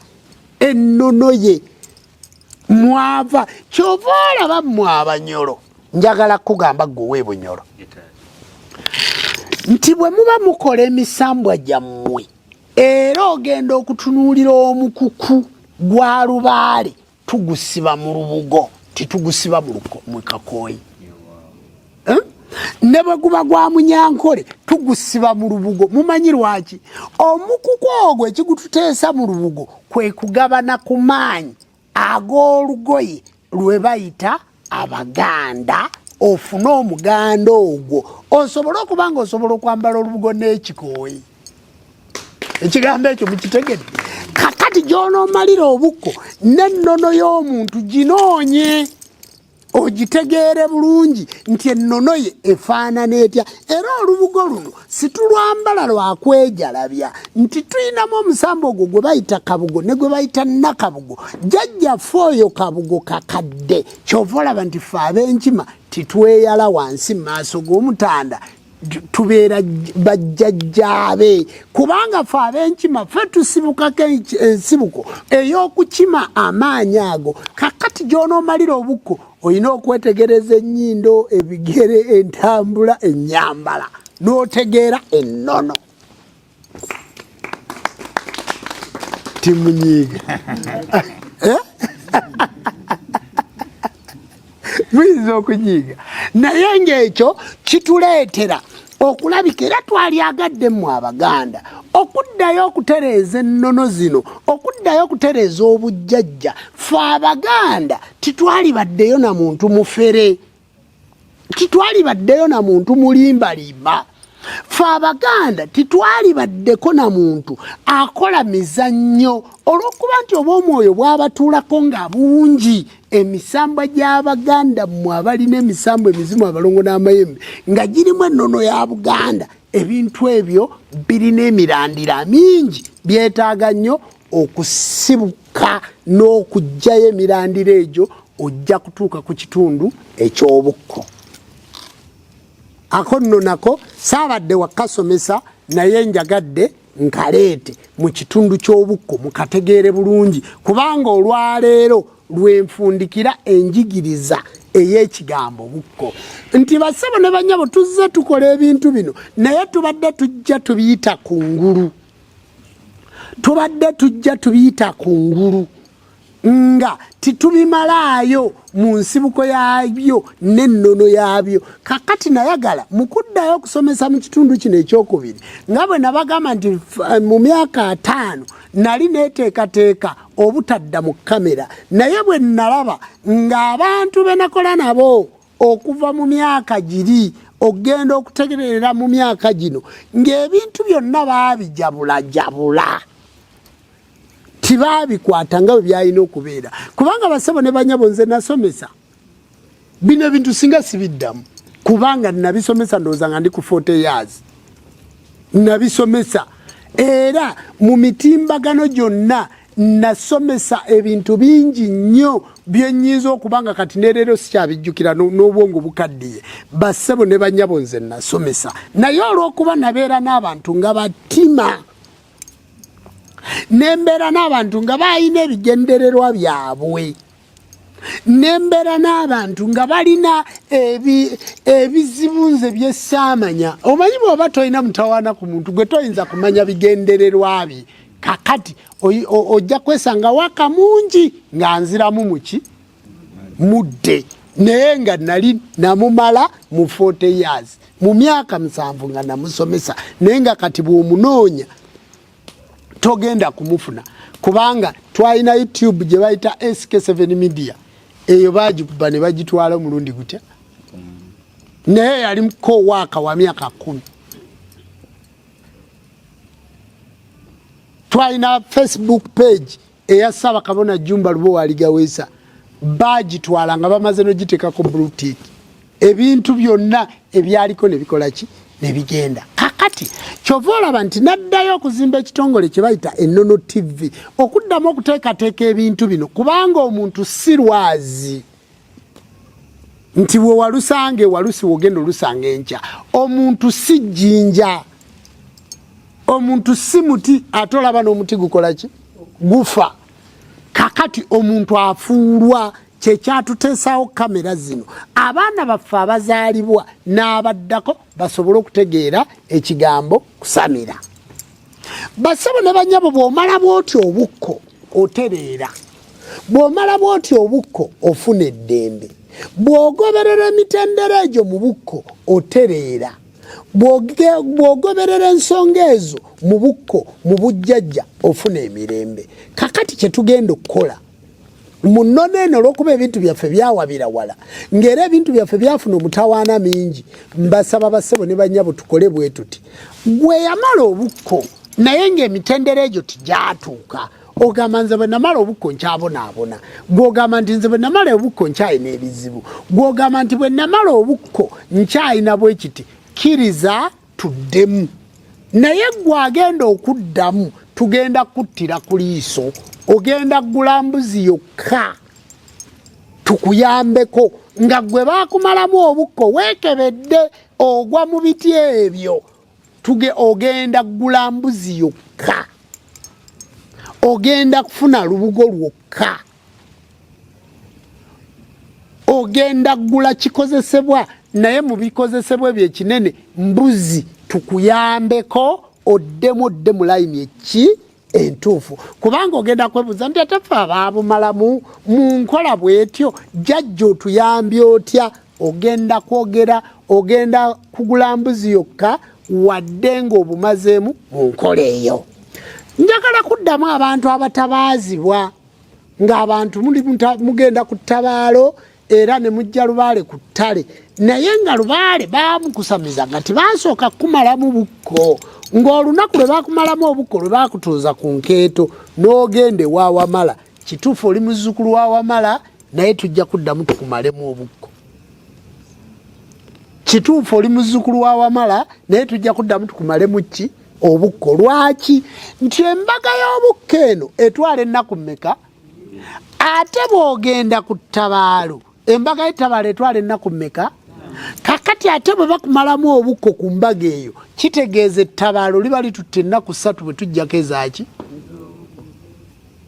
ennono ye mwava kyova olaba mmwe abanyolo njagala kukugamba gwewe bunyolo nti bwe muba mukola emisambwa gyammwe era ogenda okutunuulira omukuku gwa lubaale tugusiba mu lubugo titugusiba mu kakooyi eh? ne bwe guba gwa munyankole tugusiba mu lubugo mumanyi lwaki omukuku ogwo ekigututeesa mu lubugo kwe kugabana ku maanyi ag'olugoye lwe bayita abaganda ofune omuganda ogwo osobole okuba nga osobola okwambala olubugo n'ekikooyi ekigambo ekyo mukitegedde kakati gy'onoomalira obukko n'ennono y'omuntu ginoonye ogitegeere bulungi nti ennono ye efaanana etya era olubugo luno situlwambala lwakwejalabya nti tulinamu omusambo ogwo gwe bayita kabugo ne gwe bayita nakabugo jajjaffe oyo kabugo kakadde kyova olaba nti fe ab'enkima titweyala wansi mu maaso g'omutanda tubeera bajjajjaabe kubanga fe abenkima fe tusibukako ensibuko ey'okukima amaanyi ago kakati gy'onoomalira obukko olina okwetegereza ennyindo ebigere entambula ennyambala n'otegeera ennono timunyiiga eh? muyinza okunyiiga naye ngaekyo kituleetera okulabika era twalyagadde mu abaganda okuddayo okutereeza ennono zino okuddayo okutereeza obujjajja fe abaganda titwalibaddeyo na muntu mufere titwalibaddeyo na muntu mulimbalimba fe abaganda titwalibaddeko na muntu akola mizannyo olw'okuba nti oba omwoyo bwabatuulako nga bungi emisambwa gy'abaganda mmwe abalina emisambwa emizimu abalongo n'amayembe nga girimu ennono ya buganda ebintu ebyo birina emirandira mingi byetaaga nnyo okusibuka kyokka n'okuggyayo emirandira egyo ojja kutuuka ku kitundu eky'obukko ako nno nako saabadde wakasomesa naye njagadde nkaleete mu kitundu ky'obukko mukategeere bulungi kubanga olwaleero lwenfundikira enjigiriza ey'ekigambo bukko nti basebo ne banyabo tuzze tukola ebintu bino naye tubadde tujja tubiyita ku ngulu tubadde tujja tubiyita ku ngulu nga titubimalaayo mu nsibuko yaabyo n'ennono yaabyo kakati nayagala mu kuddayo okusomesa mu kitundu kino ekyokubiri nga bwe nabagamba nti eh, mu myaka ataano nali neteekateeka obutadda mu kamera naye bwe nalaba ng'abantu be nakola nabo okuva mu myaka giri okugenda okutegerera mu myaka gino ng'ebintu byonna baabijabulajabula tibaabikwata nga bwe byalina okubeera kubanga basebo ne banyabo nze nasomesa bino ebintu singa sibiddamu kubanga nabisomesa ndowooza nga ndi ku 40 years nabisomesa era mu mitimbagano gyonna nasomesa ebintu bingi nnyo byenyinza okuba nga kati nereero sikyabijjukira n'obwongo bukaddiye bassebo ne banyabo nze nasomesa naye olw'okuba nabeera n'abantu nga batima nembeera n'abantu nga balina ebigendererwa byabwe nembeera n'abantu nga balina ebizibu nze byesaamanya omanyi bwoba tolina mutawaana ku muntu gwe toyinza kumanya bigendererwa bye kakati ojja kwesanga waka mungi nga nziramu muki mudde naye nga nali namumala mu 40 years mu myaka musanvu nga namusomesa naye nga kati bwomunoonya togenda kumufuna kubanga twalina youtube gye bayita sk7 media eyo bagikuba ne bagitwala omulundi gutya naye yalimuko waaka wa myaka kumi twalina facebook page eya Ssaabakabona Jumba Lubowa Aligaweesa baagitwala nga bamaze n'ogiteekako blutik ebintu byonna ebyaliko ne bikola ki ne bigenda kakati kyova olaba nti naddayo okuzimba ekitongole kye bayita Ennono TV okuddamu okuteekateeka ebintu bino kubanga omuntu si lwazi nti bwe walusanga ewalusi wogenda olusanga enkya omuntu si jjinja omuntu si muti ate olaba n'omuti gukola ki gufa kakati omuntu afuulwa kyekyatuteesawo kamera zino abaana baffe abazaalibwa n'abaddako basobole okutegeera ekigambo kusamira basabo ne banyabo bwomala bwoti obukko otereera bwomala bwoti obukko ofuna eddembe bwogoberera emitendera egyo mu bukko otereera bwogoberera ensonga ezo mu bukko mu bujjajja ofuna emirembe kakati kyetugenda okukola mu nnono eno olwokuba ebintu byaffe byawabira wala ngaera ebintu byaffe byafuna omutawaana mingi mbasaba basebo ne banyabo tukole bwe tuti gwe yamala obukko naye ngaemitendera egyo tijatuuka ogamba nze bwe namala obukko nkyabonaabona gwogamba nti nze bwe namala obukko nkyalina ebizibu gwogamba nti bwe namala obukko nkyalina bwekiti kiriza tuddemu naye gwe agenda okuddamu tugenda kuttira ku liiso ogenda kugula mbuzi yokka tukuyambeko nga gwe baakumalamu obukko weekebedde ogwa mu biti ebyo tuge ogenda kugula mbuzi yokka ogenda kufuna lubugo lwokka ogenda gula kikozesebwa naye mu bikozesebwa ebyo ekinene mbuzi tukuyambeko oddemu odde mu layini eki entuufu kubanga ogenda kwebuuza nti ate fe abaabumalamu mu nkola bwetyo jajja otuyambye otya ogenda kwogera ogenda kugula mbuzi yokka wadde ng'obumazeemu mu nkola eyo njagala kuddamu abantu abatabaazibwa ng'abantu muli mugenda ku ttabaalo era ne mujja lubaale ku ttale naye nga lubaale baamukusamiza nga tibasooka kukumalamu bukko ng'olunaku lwe baakumalamu obukko lwe baakutuuza ku nkeeto n'ogenda ewa wamala kituufu oli muzzukulu wa wamala naye tujja kuddamu tukumalemu obukko kituufu oli muzzukulu wa wamala naye tujja kuddamu tukumalemu ki obukko lwaki nti embaga y'obukko eno etwala ennaku mmeka ate bw'ogenda ku ttabaalo embaga y'ettabaalo etwala ennaku mmeka kakati ate bwe bakumalamu obukko ku mbaga eyo kitegeeza ettabaalo liba litutte ennaku ssatu bwe tujjako ezaaki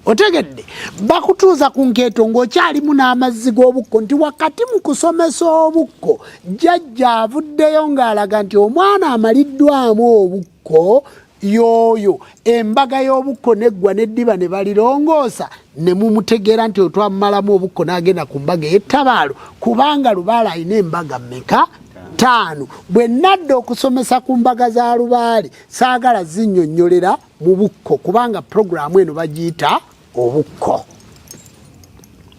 otegedde bakutuuza ku nkeeto ng'okyalimu n'amazzi g'obukko nti wakati mu kusomesa obukko jjajja avuddeyo ng'alaga nti omwana amaliddwamu obukko yooyo embaga y'obukko neggwa n'eddiba ne balirongoosa ne mumutegeera nti otwamumalamu obukko n'agenda ku mbaga ey'ettabaalo kubanga lubaale alina embaga mmeka ttaano bwe nadda okusomesa ku mbaga za lubaale saagala zinnyonnyolera mu bukko kubanga puroguramu eno bagiyita obukko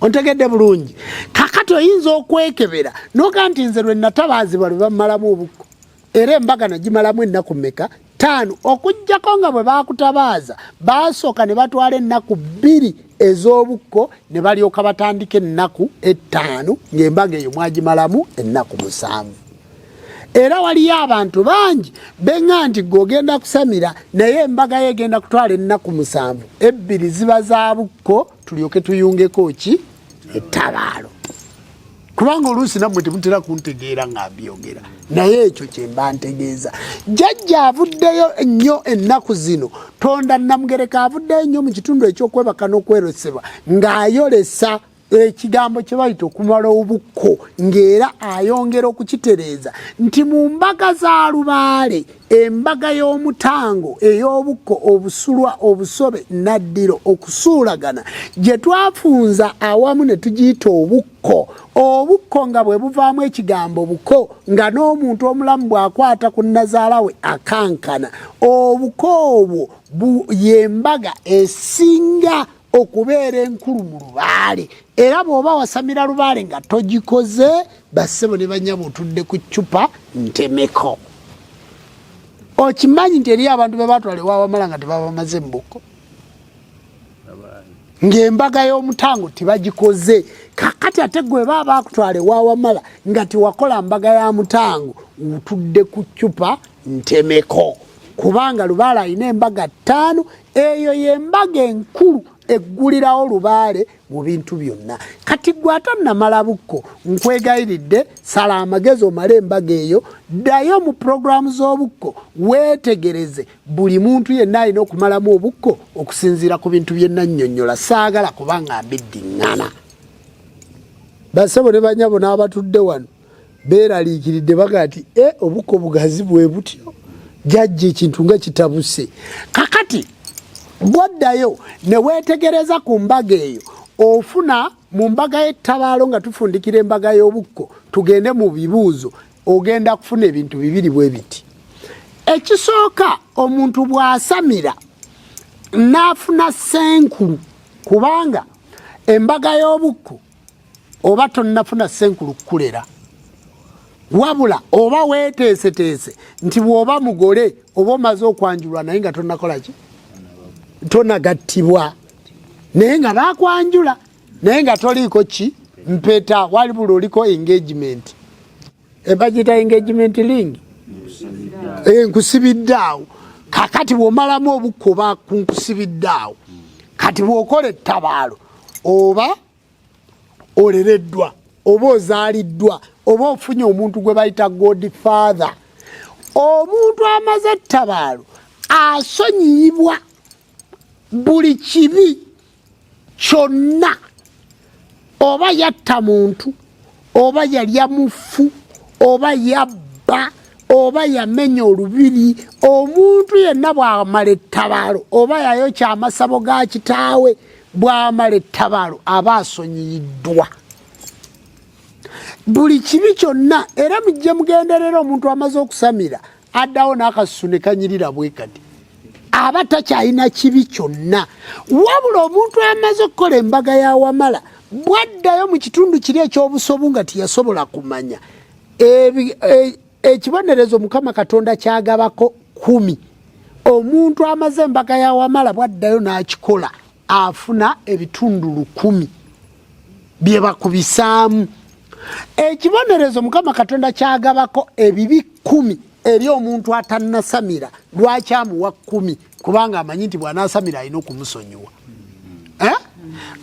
ontegedde bulungi kakati oyinza okwekebera noga nti nze lwe natabaazibwa lwe bamalamu obukko era embaga nagimalamu ennaku meka taano okugjako nga bwe bakutabaaza baasooka ne batwala ennaku bbiri ez'obukko ne balyoka batandika ennaku ettaano ng'embaga eyo mwagimalamu ennaku musanvu era waliyo abantu bangi beŋa nti gwe ogenda kusamira naye embaga yo egenda kutwala ennaku musanvu ebbiri ziba za bukko tulyoke tuyungeko ki ettabaalo kubanga oluusi nammwe temutera kuntegeera nga mbyogera naye ekyo kyemba ntegeeza jajja avuddeyo nnyo ennaku zino tonda namugereka avuddeyo nnyo mu kitundu ekyokwebaka n'okwerosebwa ng'ayolesa ekigambo kye bayita okumala obukko ng'era ayongera okukitereeza nti mu mbaga za lubaale embaga y'omutango ey'obukko obusulwa obusobe naddiro okusuulagana gye twafunza awamu ne tugiyita obukko obukko nga bwe buvaamu ekigambo buko nga n'omuntu omulamu bw'akwata ku nnazaala we akankana obuko obwo ye mbaga esinga okubeera enkulu mu lubaale era bw'oba wasamira lubaale nga togikoze bassebo ne banyabo otudde ku ccupa ntemeko okimanyi nti eriyo abantu bebatwala ewabamala nga tebabamaze mubuko ngaembaga y'omutango tebagikoze kakati ate gweba bakutwala ewawamala nga tewakola mbaga ya mutango otudde ku ccupa ntemeko kubanga lubaale alina embaga ttaano eyo yembaga enkulu eggulirawo lubaale mu bintu byonna kati gwe atannamala bukko nkwegayiridde sala amagezi omale embaga eyo ddayo mu pulogulaamu z'obukko weetegereze buli muntu yenna alina okumalamu obukko okusinziira ku bintu bye nannyonnyola saagala kubanga mbiddiŋŋana basebo ne banyabo n'abatudde wano beeraliikiridde baga nti e obukko bugazi bwe butyo jajja ekintu nga kitabuse kakati bwoddayo ne weetegereza ku mbaga eyo ofuna mu mbaga y'ettabaalo nga tufundikira embaga y'obukko tugende mu bibuuzo ogenda kufuna ebintu bibiri bwe biti ekisooka omuntu bw'asamira n'afuna senkulu kubanga embaga y'obukko oba tonnafuna senkulu kukulera wabula oba weteeseteese nti bw'oba mugole oba omaze okwanjulwa naye nga tonakola ki tonagattibwa naye nga bakwanjula naye nga toliiko ki mpeta wali buli oliko engagement ebagita engagement ling eh, nkusibidde awo kakati bwomalamu obukko bakunkusibidde awo kati bwokola ettabaalo oba olereddwa oba ozaaliddwa oba ofunye omuntu gwe bayita god father omuntu amaze ettabaalo asonyiyibwa buli kibi kyonna oba yatta muntu oba yalya mufu oba yabba oba yamenya olubiri omuntu yenna bwamala ettabaalo oba yayokya amasabo ga kitaawe bwamala ettabaalo aba asonyiyiddwa buli kibi kyonna era mujje mugenderera omuntu amaze okusamira addawo n'akasusu ne kanyirira bwe kati aba takyalina kibi kyonna wabula omuntu amaze okukola embaga ya wamala bwaddayo mu kitundu kiri ekyobusobu nga tiyasobola kumanya e, ekibonerezo mukama katonda kyagabako kumi omuntu amaze embaga ya wamala bwaddayo n'akikola afuna ebitundu lukumi bye bakubisaamu ekibonerezo mukama katonda kyagabako ebibi kumi eri omuntu atanasamira lwaki amuwa kumi kubanga amanyi nti bwanasamira alina okumusonyiwa eh?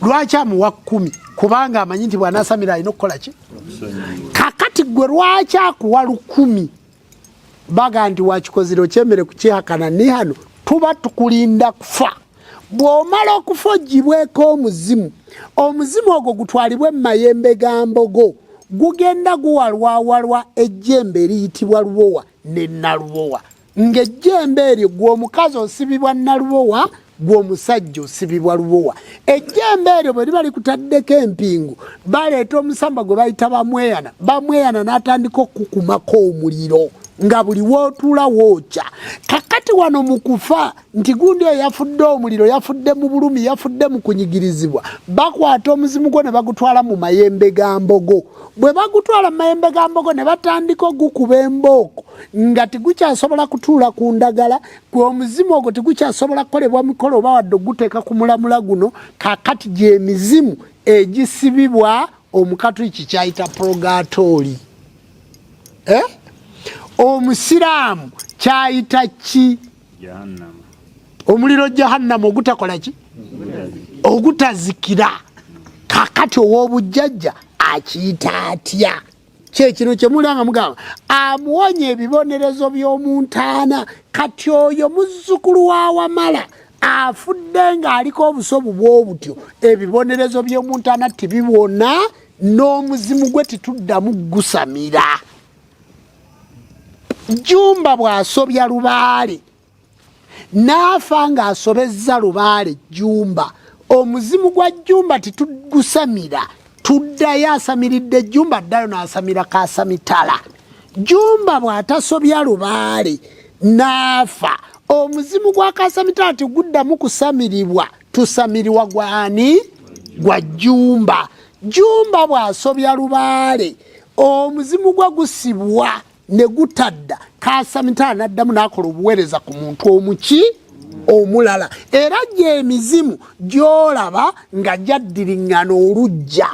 lwaki amuwa kumi kubanga amanyi nti bwanasamira alina okukola ki kakati gwe lwaki akuwa lukumi baga nti wakikozire okyemere kukyihakana nihano tuba tukulinda kufa bw'omala okufa ogibweko omuzimu omuzimu ogwo gutwalibwe mu mayembe ga mbogo gugenda guwalwawalwa ejjembe eriyitibwa lubowa ne nalubowa ng'ejjembe eryo gw'omukazi osibibwa nalubowa gwe omusajja osibibwa lubowa ejjembe eryo bwe liba likutaddeko empingu baleeta omusamba gwe bayita bamweyana bamweyana n'atandika okukukumako omuliro nga buli wootuula wookya kakati wano mu kufa nti gundi oyo yafudde omuliro yafudde mu bulumi yafudde mu kunyigirizibwa bakwata omuzimu gwo ne bagutwala mu mayembe ga mbogo bwe bagutwala mu mayembe ga mbogo ne batandika ogukuba embooko nga tigukyasobola kutuula ku ndagala gwe omuzimu ogwo tegukyasobola kukolebwa mikolo oba wadde oguteeka ku mulamula guno kakati gyemizimu egisibibwa omukatuliki kyayita purogatooli eh? omusiraamu kyayita ki omuliro jahannama ogutakola ki ogutazikira kakati ow'obujjajja akiyita atya kyekino kyemulanga mugamba amuwonya ebibonerezo by'omu ntaana kati oyo muzzukulu wa wamala afudde ng'aliko obusobu bw'obutyo ebibonerezo by'omu ntaana tibiwona n'omuzimu gwe tituddamu gusamira jumba bw'asobya lubaale n'afa ng'asobezza lubaale jjumba omuzimu gwa jjumba titugusamira tuddayo asamiridde jjumba addayo n'asamira kasamitala jjumba bw'atasobya lubaale n'afa omuzimu gwa kasamitala tiguddamu kusamirirwa tusamiriwa gwani gwa jjumba jjumba bw'asobya lubaale omuzimu gwe gusibwa ne gutadda kasamitala n'addamu n'akola obuweereza ku muntu omuki omulala era gyemizimu gyolaba nga gyaddiriŋŋana olujja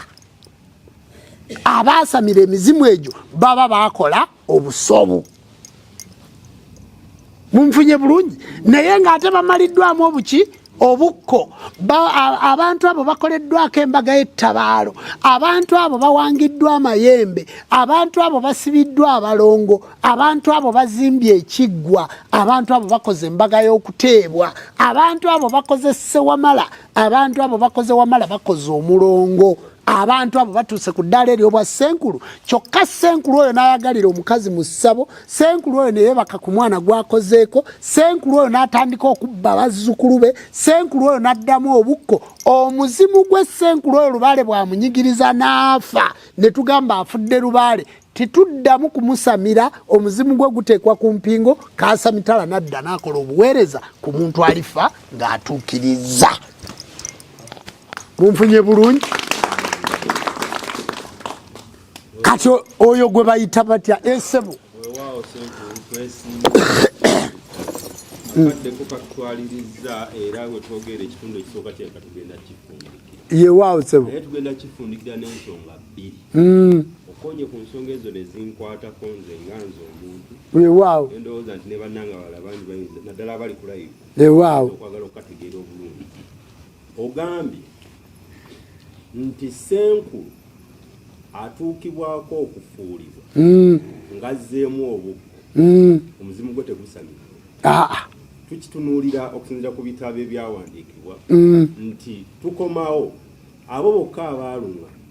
abaasamira emizimu egyo baba bakola obusobu munfunye bulungi naye ng'ate bamaliddwamu obuki obukko abantu abo bakoleddwako embaga y'ettabaalo abantu abo bawangiddwa amayembe abantu abo basibiddwa abalongo abantu abo bazimbye ekiggwa abantu abo bakoze embaga y'okuteebwa abantu abo bakoze sewamala abantu abo bakoze wamala bakoze omulongo abantu abo batuuse ku ddaala eryobwa senkulu kyokka senkulu oyo n'ayagalira omukazi mu ssabo senkulu oyo neyebaka ku mwana gwakozeeko senkulu oyo n'atandika okubba bazzukulu be senkulu oyo n'addamu obukko omuzimu gwe senkulu oyo lubaale bwamunyigiriza n'afa ne tugamba afudde lubaale tituddamu kumusamira omuzimu gwe guteekwa ku mpingo kaasa mitala nadda naakola obuweereza ku muntu alifa ng'atuukiriza munfunye bulungi kati oyo gwe bayita batya esebo yewaawo sebo mm. okonye ku nsonga ezo nezinkwatako nze nga nze omuntu wewaawo endowooza nti ne bannanga bala bangi bayinza naddala abali kulayivu wewaawo okwagala okukategeera obulungi ogambye nti senkulu atuukibwako okufuulibwa mm. ngazzeemu obukko mm. omuzimu gwe tegusamira ah, ah. tukitunuulira okusinzira ku bitabo ebyawandiikibwa mm. nti tukomawo abo bokka abaalunga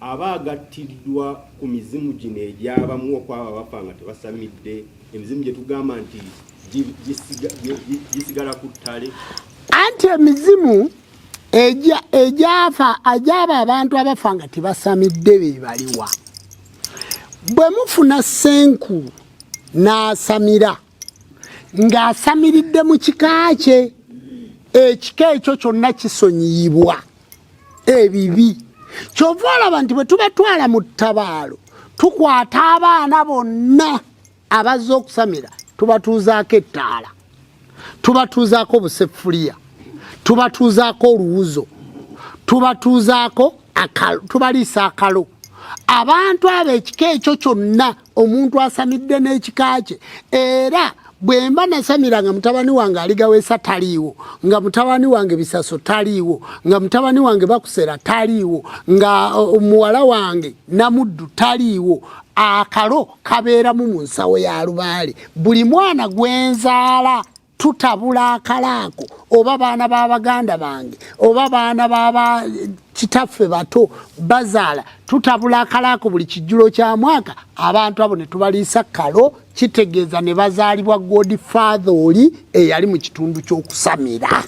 aba agattiddwa ku mizimu gino egyabamu okwabo abafa nga tebasamidde emizimu gye tugamba nti gisigala ku ttale anti emizimu egyafa agyaba abantu abafa nga tebasamidde be baliwa bwe mufuna senkulu n'asamira na ng'asamiridde mu kika kye ekika ekyo kyonna kisonyiyibwa ebibi kyova olaba nti bwe tubatwala mu ttabaalo tukwata abaana bonna abazze okusamira tubatuuzaako ettaala tubatuuzaako obuseffuliya tubatuuzaako oluwuzo tubatuuzaako tubaliisa akalo abantu abo ekika ekyo kyonna omuntu asamidde n'ekika kye era bwemba nasamira nga mutabani wange aligawesa taliiwo nga mutabani wange bisaso taliiwo nga mutabani wange bakusera taliiwo nga omuwala wange namuddu taliiwo akalo kabeeramu mu nsawo ya lubaale buli mwana gwenzaala tutabula akalaako oba baana ba baganda bange oba baana baba kitaffe bato bazaala tutabula akalaako buli kijjulo kya mwaka abantu abo ne tubaliisa kalo kitegeeza ne bazaalibwa godfather oli eyali mu kitundu ky'okusamira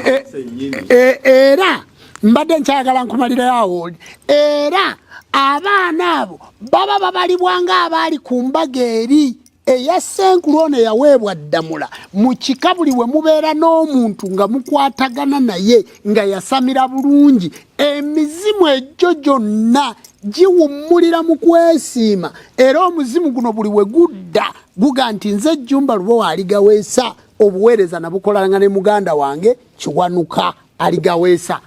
Eh, eh, eh, era mbadde nkyagala nkumalirayo awo era abaana abo baba babalibwa ng'abaali ku mbaga eri eya senkulu ono eyaweebwa ddamula mu kika buli we mubeera n'omuntu nga mukwatagana naye nga yasamira bulungi emizimu egyo gyonna giwummulira mu kwesiima era omuzimu guno buli we gudda guga nti nze jumba lubo aligaweesa obuweereza nabukolalanga ne muganda wange kiwanuka aligaweesa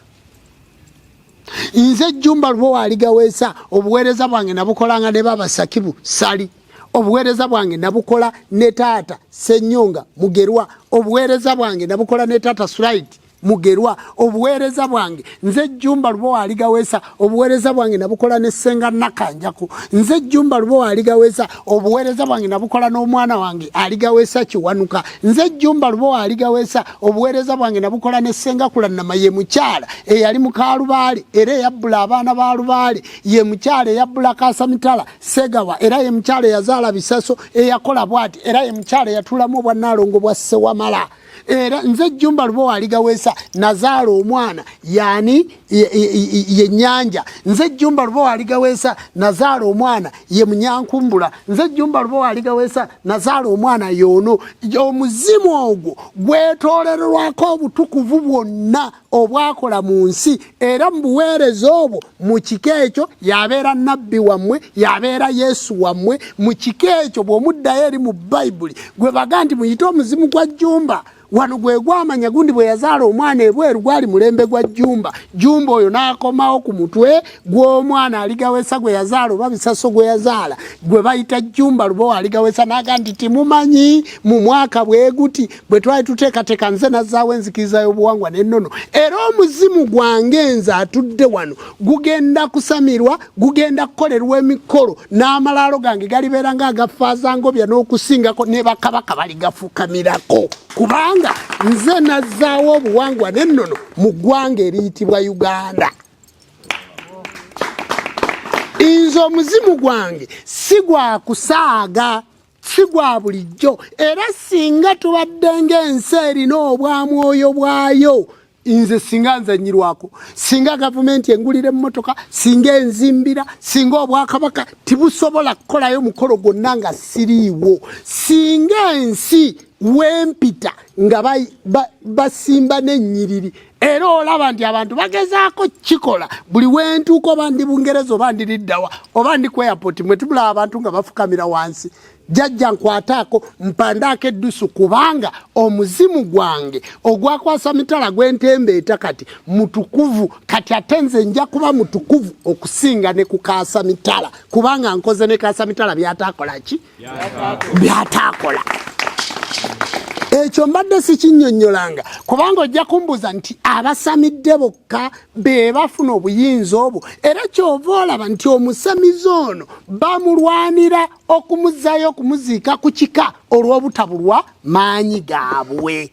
nze jumba lubo aligaweesa obuweereza bwange nabukolanga ne baba sakibu sali obuweereza bwange nabukola ne taata senyonga mugerwa obuweereza bwange nabukola ne taata sulaiti mugerwa obuweereza bwange nze jjumba lubo waaligaweesa obuweereza bwange nabukola ne ssenga nakanjaku nze jjumba lubo waaligaweesa obuweereza bwange nabukola n'omwana wange aligaweesa kiwanuka nze jjumba lubo waaligaweesa obuweereza bwange nabukola ne ssenga kulannama ye mukyala eyali mukaalubaale era eyabbula abaana ba lubaale ye mukyala eyabbula kaasamitala segawa era ye mukyala eyazaala bisaso eyakola bwati era ye mukyala eyatuulamu obwannaalongo bwa ssewamala era nze jumba lubowa aligawesa nazaala omwana yani ye nyanja nze jumba lubowa aligawesa nazaala omwana ye munyankumbula nze jumba lubowa aligawesa nazaala omwana yono omuzimu ogwo gwetolererwako obutukuvu bwonna obwakola mu nsi era mu buweereza obwo mu kiko ekyo yabeera nabbi wammwe yabeera yesu wammwe mu kiko ekyo bw'omuddayo eri mu bayibuli gwe baga nti muyite omuzimu gwa jjumba wano gwe gwamanya gundi bwe yazaala omwana ebweru gwali mulembe gwa jjumba jjumba oyo n'akomawo ku mutwe gw'omwana aligawesa gwe yazaala oba bisaso gwe yazaala gwe bayita jjumba lubowa aligawesa n'aga nti timumanyi mu mwaka bwe guti bwe twali tuteekateeka nze nazzaawo enzikiriza y'obuwangwa n'ennono era omuzimu gwange nze atudde wano gugenda kusamirwa gugenda kukolerwa emikolo n'amalaalo gange galibeera nga agafaazangobya n'okusingako ne bakabaka baligafukamirako kubanga nze nazzaawo obuwangwa n'ennono mu ggwanga eriyitibwa uganda nze omuzimu gwange si gwa kusaaga si gwa bulijjo era singa tubadde ng'ensi erina obwamwoyo bwayo nze singa nzanyirwako singa gavumenti engulira emmotoka singa enzimbira singa obwakabaka tibusobola kukolayo mukolo gwonna nga siriiwo singa ensi wempita nga basimba n'ennyiriri era olaba nti abantu bagezaako kikola buli wentuuka oba ndi bungereza oba ndiriddawa oba ndi ku airport mwe tubulaba abantu nga bafukamira wansi jajja nkwataako mpandaako eddusu kubanga omuzimu gwange ogwakwasa mitala gwentembe eta kati mutukuvu kati ate nze nja kuba mutukuvu okusinga ne kukaasa mitala kubanga nkoze ne kaasa mitala byataakola ki byataakola ekyo mbadde sikinyonyolanga kubanga ojja kumbuza nti abasamidde bokka be bafuna obuyinza obwo era kyova olaba nti omusamizi ono bamulwanira okumuzayo okumuziika ku kika olw'obutabulwa maanyi gaabwe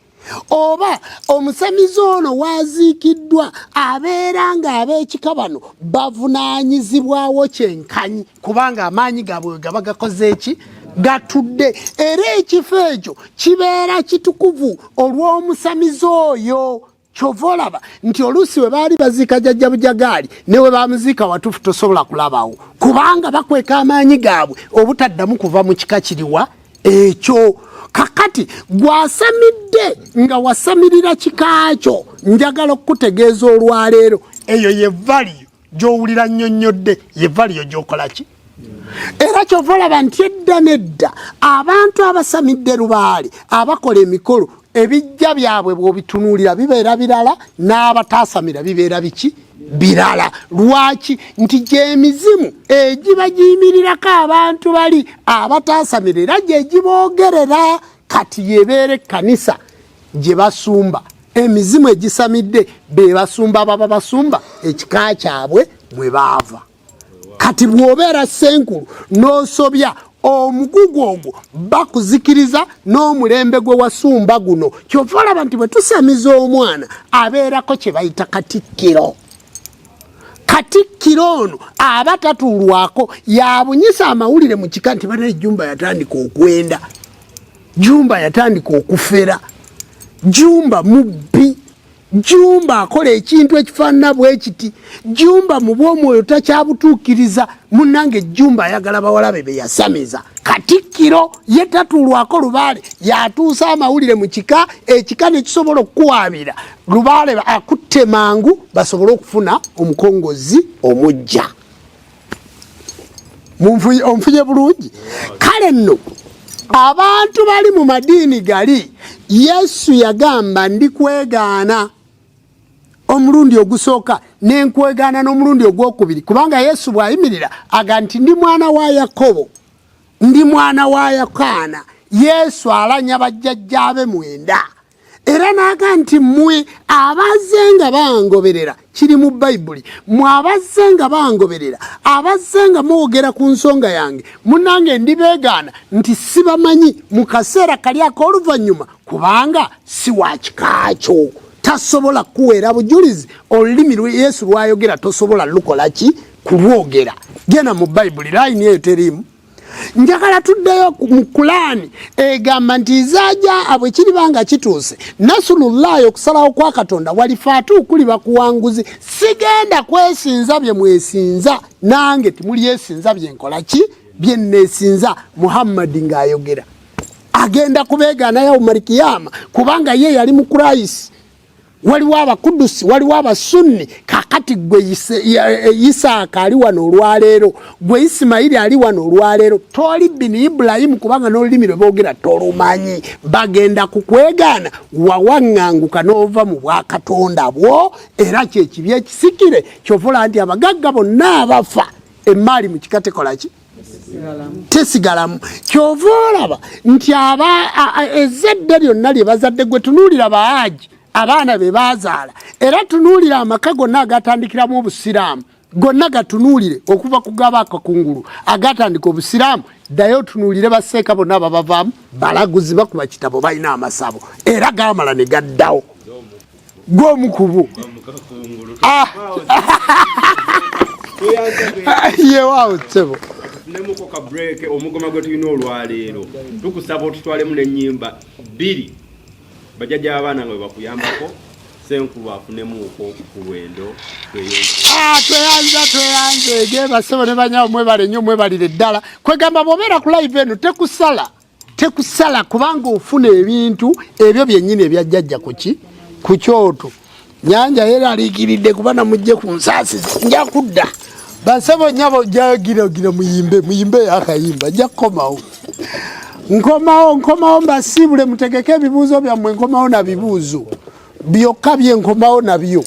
oba omusamize ono waaziikiddwa abeera ng'ab'ekika bano bavunaanyizibwawo kyenkanyi kubanga amaanyi gaabwe we gaba gakoze eki gatudde era ekifo ekyo kibeera kitukuvu olw'omusamize oyo kyova olaba nti oluusi we baali baziika jajja bujagaali ne we bamuziika watuufu tosobola kulabawo kubanga bakweka amaanyi gaabwe obutaddamu kuva mu kika kiriwa ekyo kakati gwasamidde nga wasamirira kikaakyo njagala okukutegeeza olwaleero eyo ye valiyo gyowulira nnyonnyodde ye valiyo gyokola ki era kyova olaba nti edda nedda abantu abasamidde lubaale abakola emikolo ebijja byabwe bwobitunuulira bibeera birala n'abataasamira bibeera biki birala lwaki nti gyemizimu egiba giyimirirako abantu bali abataasamira era gyegiboogerera kati yebeera ekkanisa gye basumba emizimu egisamidde be basumba baba basumba ekika kyabwe mwe baava kati bwobeera senkulu n'osobya omugugu ogwo bakuzikiriza n'omulembe gwe wasumba guno kyova olaba nti bwe tusamiza omwana abeerako kye bayita katikkiro katikkiro ono aba tatuulwako yabunyisa amawulire mu kika nti bana ejjumba yatandika okwenda jumba yatandika okufera jumba mubbi Jumba akola ekintu ekifaanana bwe kiti. Jumba mu bw'omwoyo takyabutuukiriza. Munnange Jumba ayagala bawala be be yasamiza. Katikkiro ye tatuulwako Lubaale y'atuusa amawulire mu kika, ekika ne kisobola okukuwaabira. Lubaale akutte mangu basobole okufuna omukongozzi omuggya. onfunye bulungi kale nno abantu bali mu madiini gali yesu yagamba ndi kwegaana omulundi ogusooka nenkwegaana n'omulundi ogwokubiri kubanga yesu bwayimirira aga nti ndi mwana wa yakobo ndi mwana wa yakaana yesu alanya bajjajjaabe mwenda era n'aga nti mmwe abazze nga bangoberera kiri mu bayibuli mwe abazze nga bangoberera abazze nga mwogera ku nsonga yange munange ndibeegaana nti sibamanyi mu kaseera kali ak'oluvannyuma kubanga si wakikaakyo tasobola kukuweera bujulizi olulimi yesu lwayogera tosobola lukola ki kulwogera genda mu bayibuli layini eyo teriimu njagala tuddeyo mu kulaani egamba nti izaja abwe kiriba nga kituuse nasulullahi okusalawo kwa katonda walifaatu okuliba kuwanguzi sigenda kwesinza bye mwesinza nange timulyesinza byenkola ki bye nnesinza muhammadi ng'ayogera agenda kubeegaana yawumalikiyama kubanga ye yali mu kurayisi waliwo abakudusi waliwo abasunni kakati gwe eh, isaaka ali wano olwaleero gwe isimayiri ali wano olwaleero toli bini ibulayimu kubanga n'olulimi lwe boogera tolumanyi bagenda kukwegaana wawaŋŋanguka n'ova mu bwakatonda bwo era kyekibi ekisikire kyovula nti abagagga bonna abafa emmaali mu kika tekolaki tesigalamu kyova olaba nti aba ezadde lyonna lye bazadde gwe tunuulira baaji abaana be bazaala era tunuulira amaka gonna agatandikiramu obusiraamu gonna gatunuulire okuva ku gaba akakungulu agatandika obusiraamu ddayo otunuulire baseeka bonna babavaamu balaguzi bakuba kitabo balina amasabo era gamala ne gaddawo gwomu kubo ah. yewaawo sebo tufunemuko ka break omugoma gwe tulina olwaleero tukusaba otutwalemu nenyimba bbiri bajaja abaana nga webakuyambako senkulu afunemuko kulwendo ah, tweyanza tweyanza egebasebo ne banyawo mwebalenyo mwebalire ddala kwegamba bobeera ku live eno tekusala tekusala kubanga ofuna ebintu ebyo byennyini ebyajjajja kuki ku kyoto nyanja yeraliikiridde kuba namujje ku nsaasiza nja kudda basebo nyabo jagiragira muyimbe muyimbe akayimba nja kukomawo nkomawo nkomawo mbasiibule mutegeke ebibuuzo byammwe nkomawo na bibuuzo byokka bye nkomawo nabyo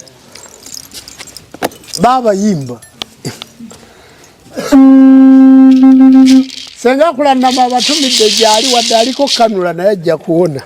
baabayimba senga kulanama abatumidde gyali wadde aliko kanula naye ajja kuwona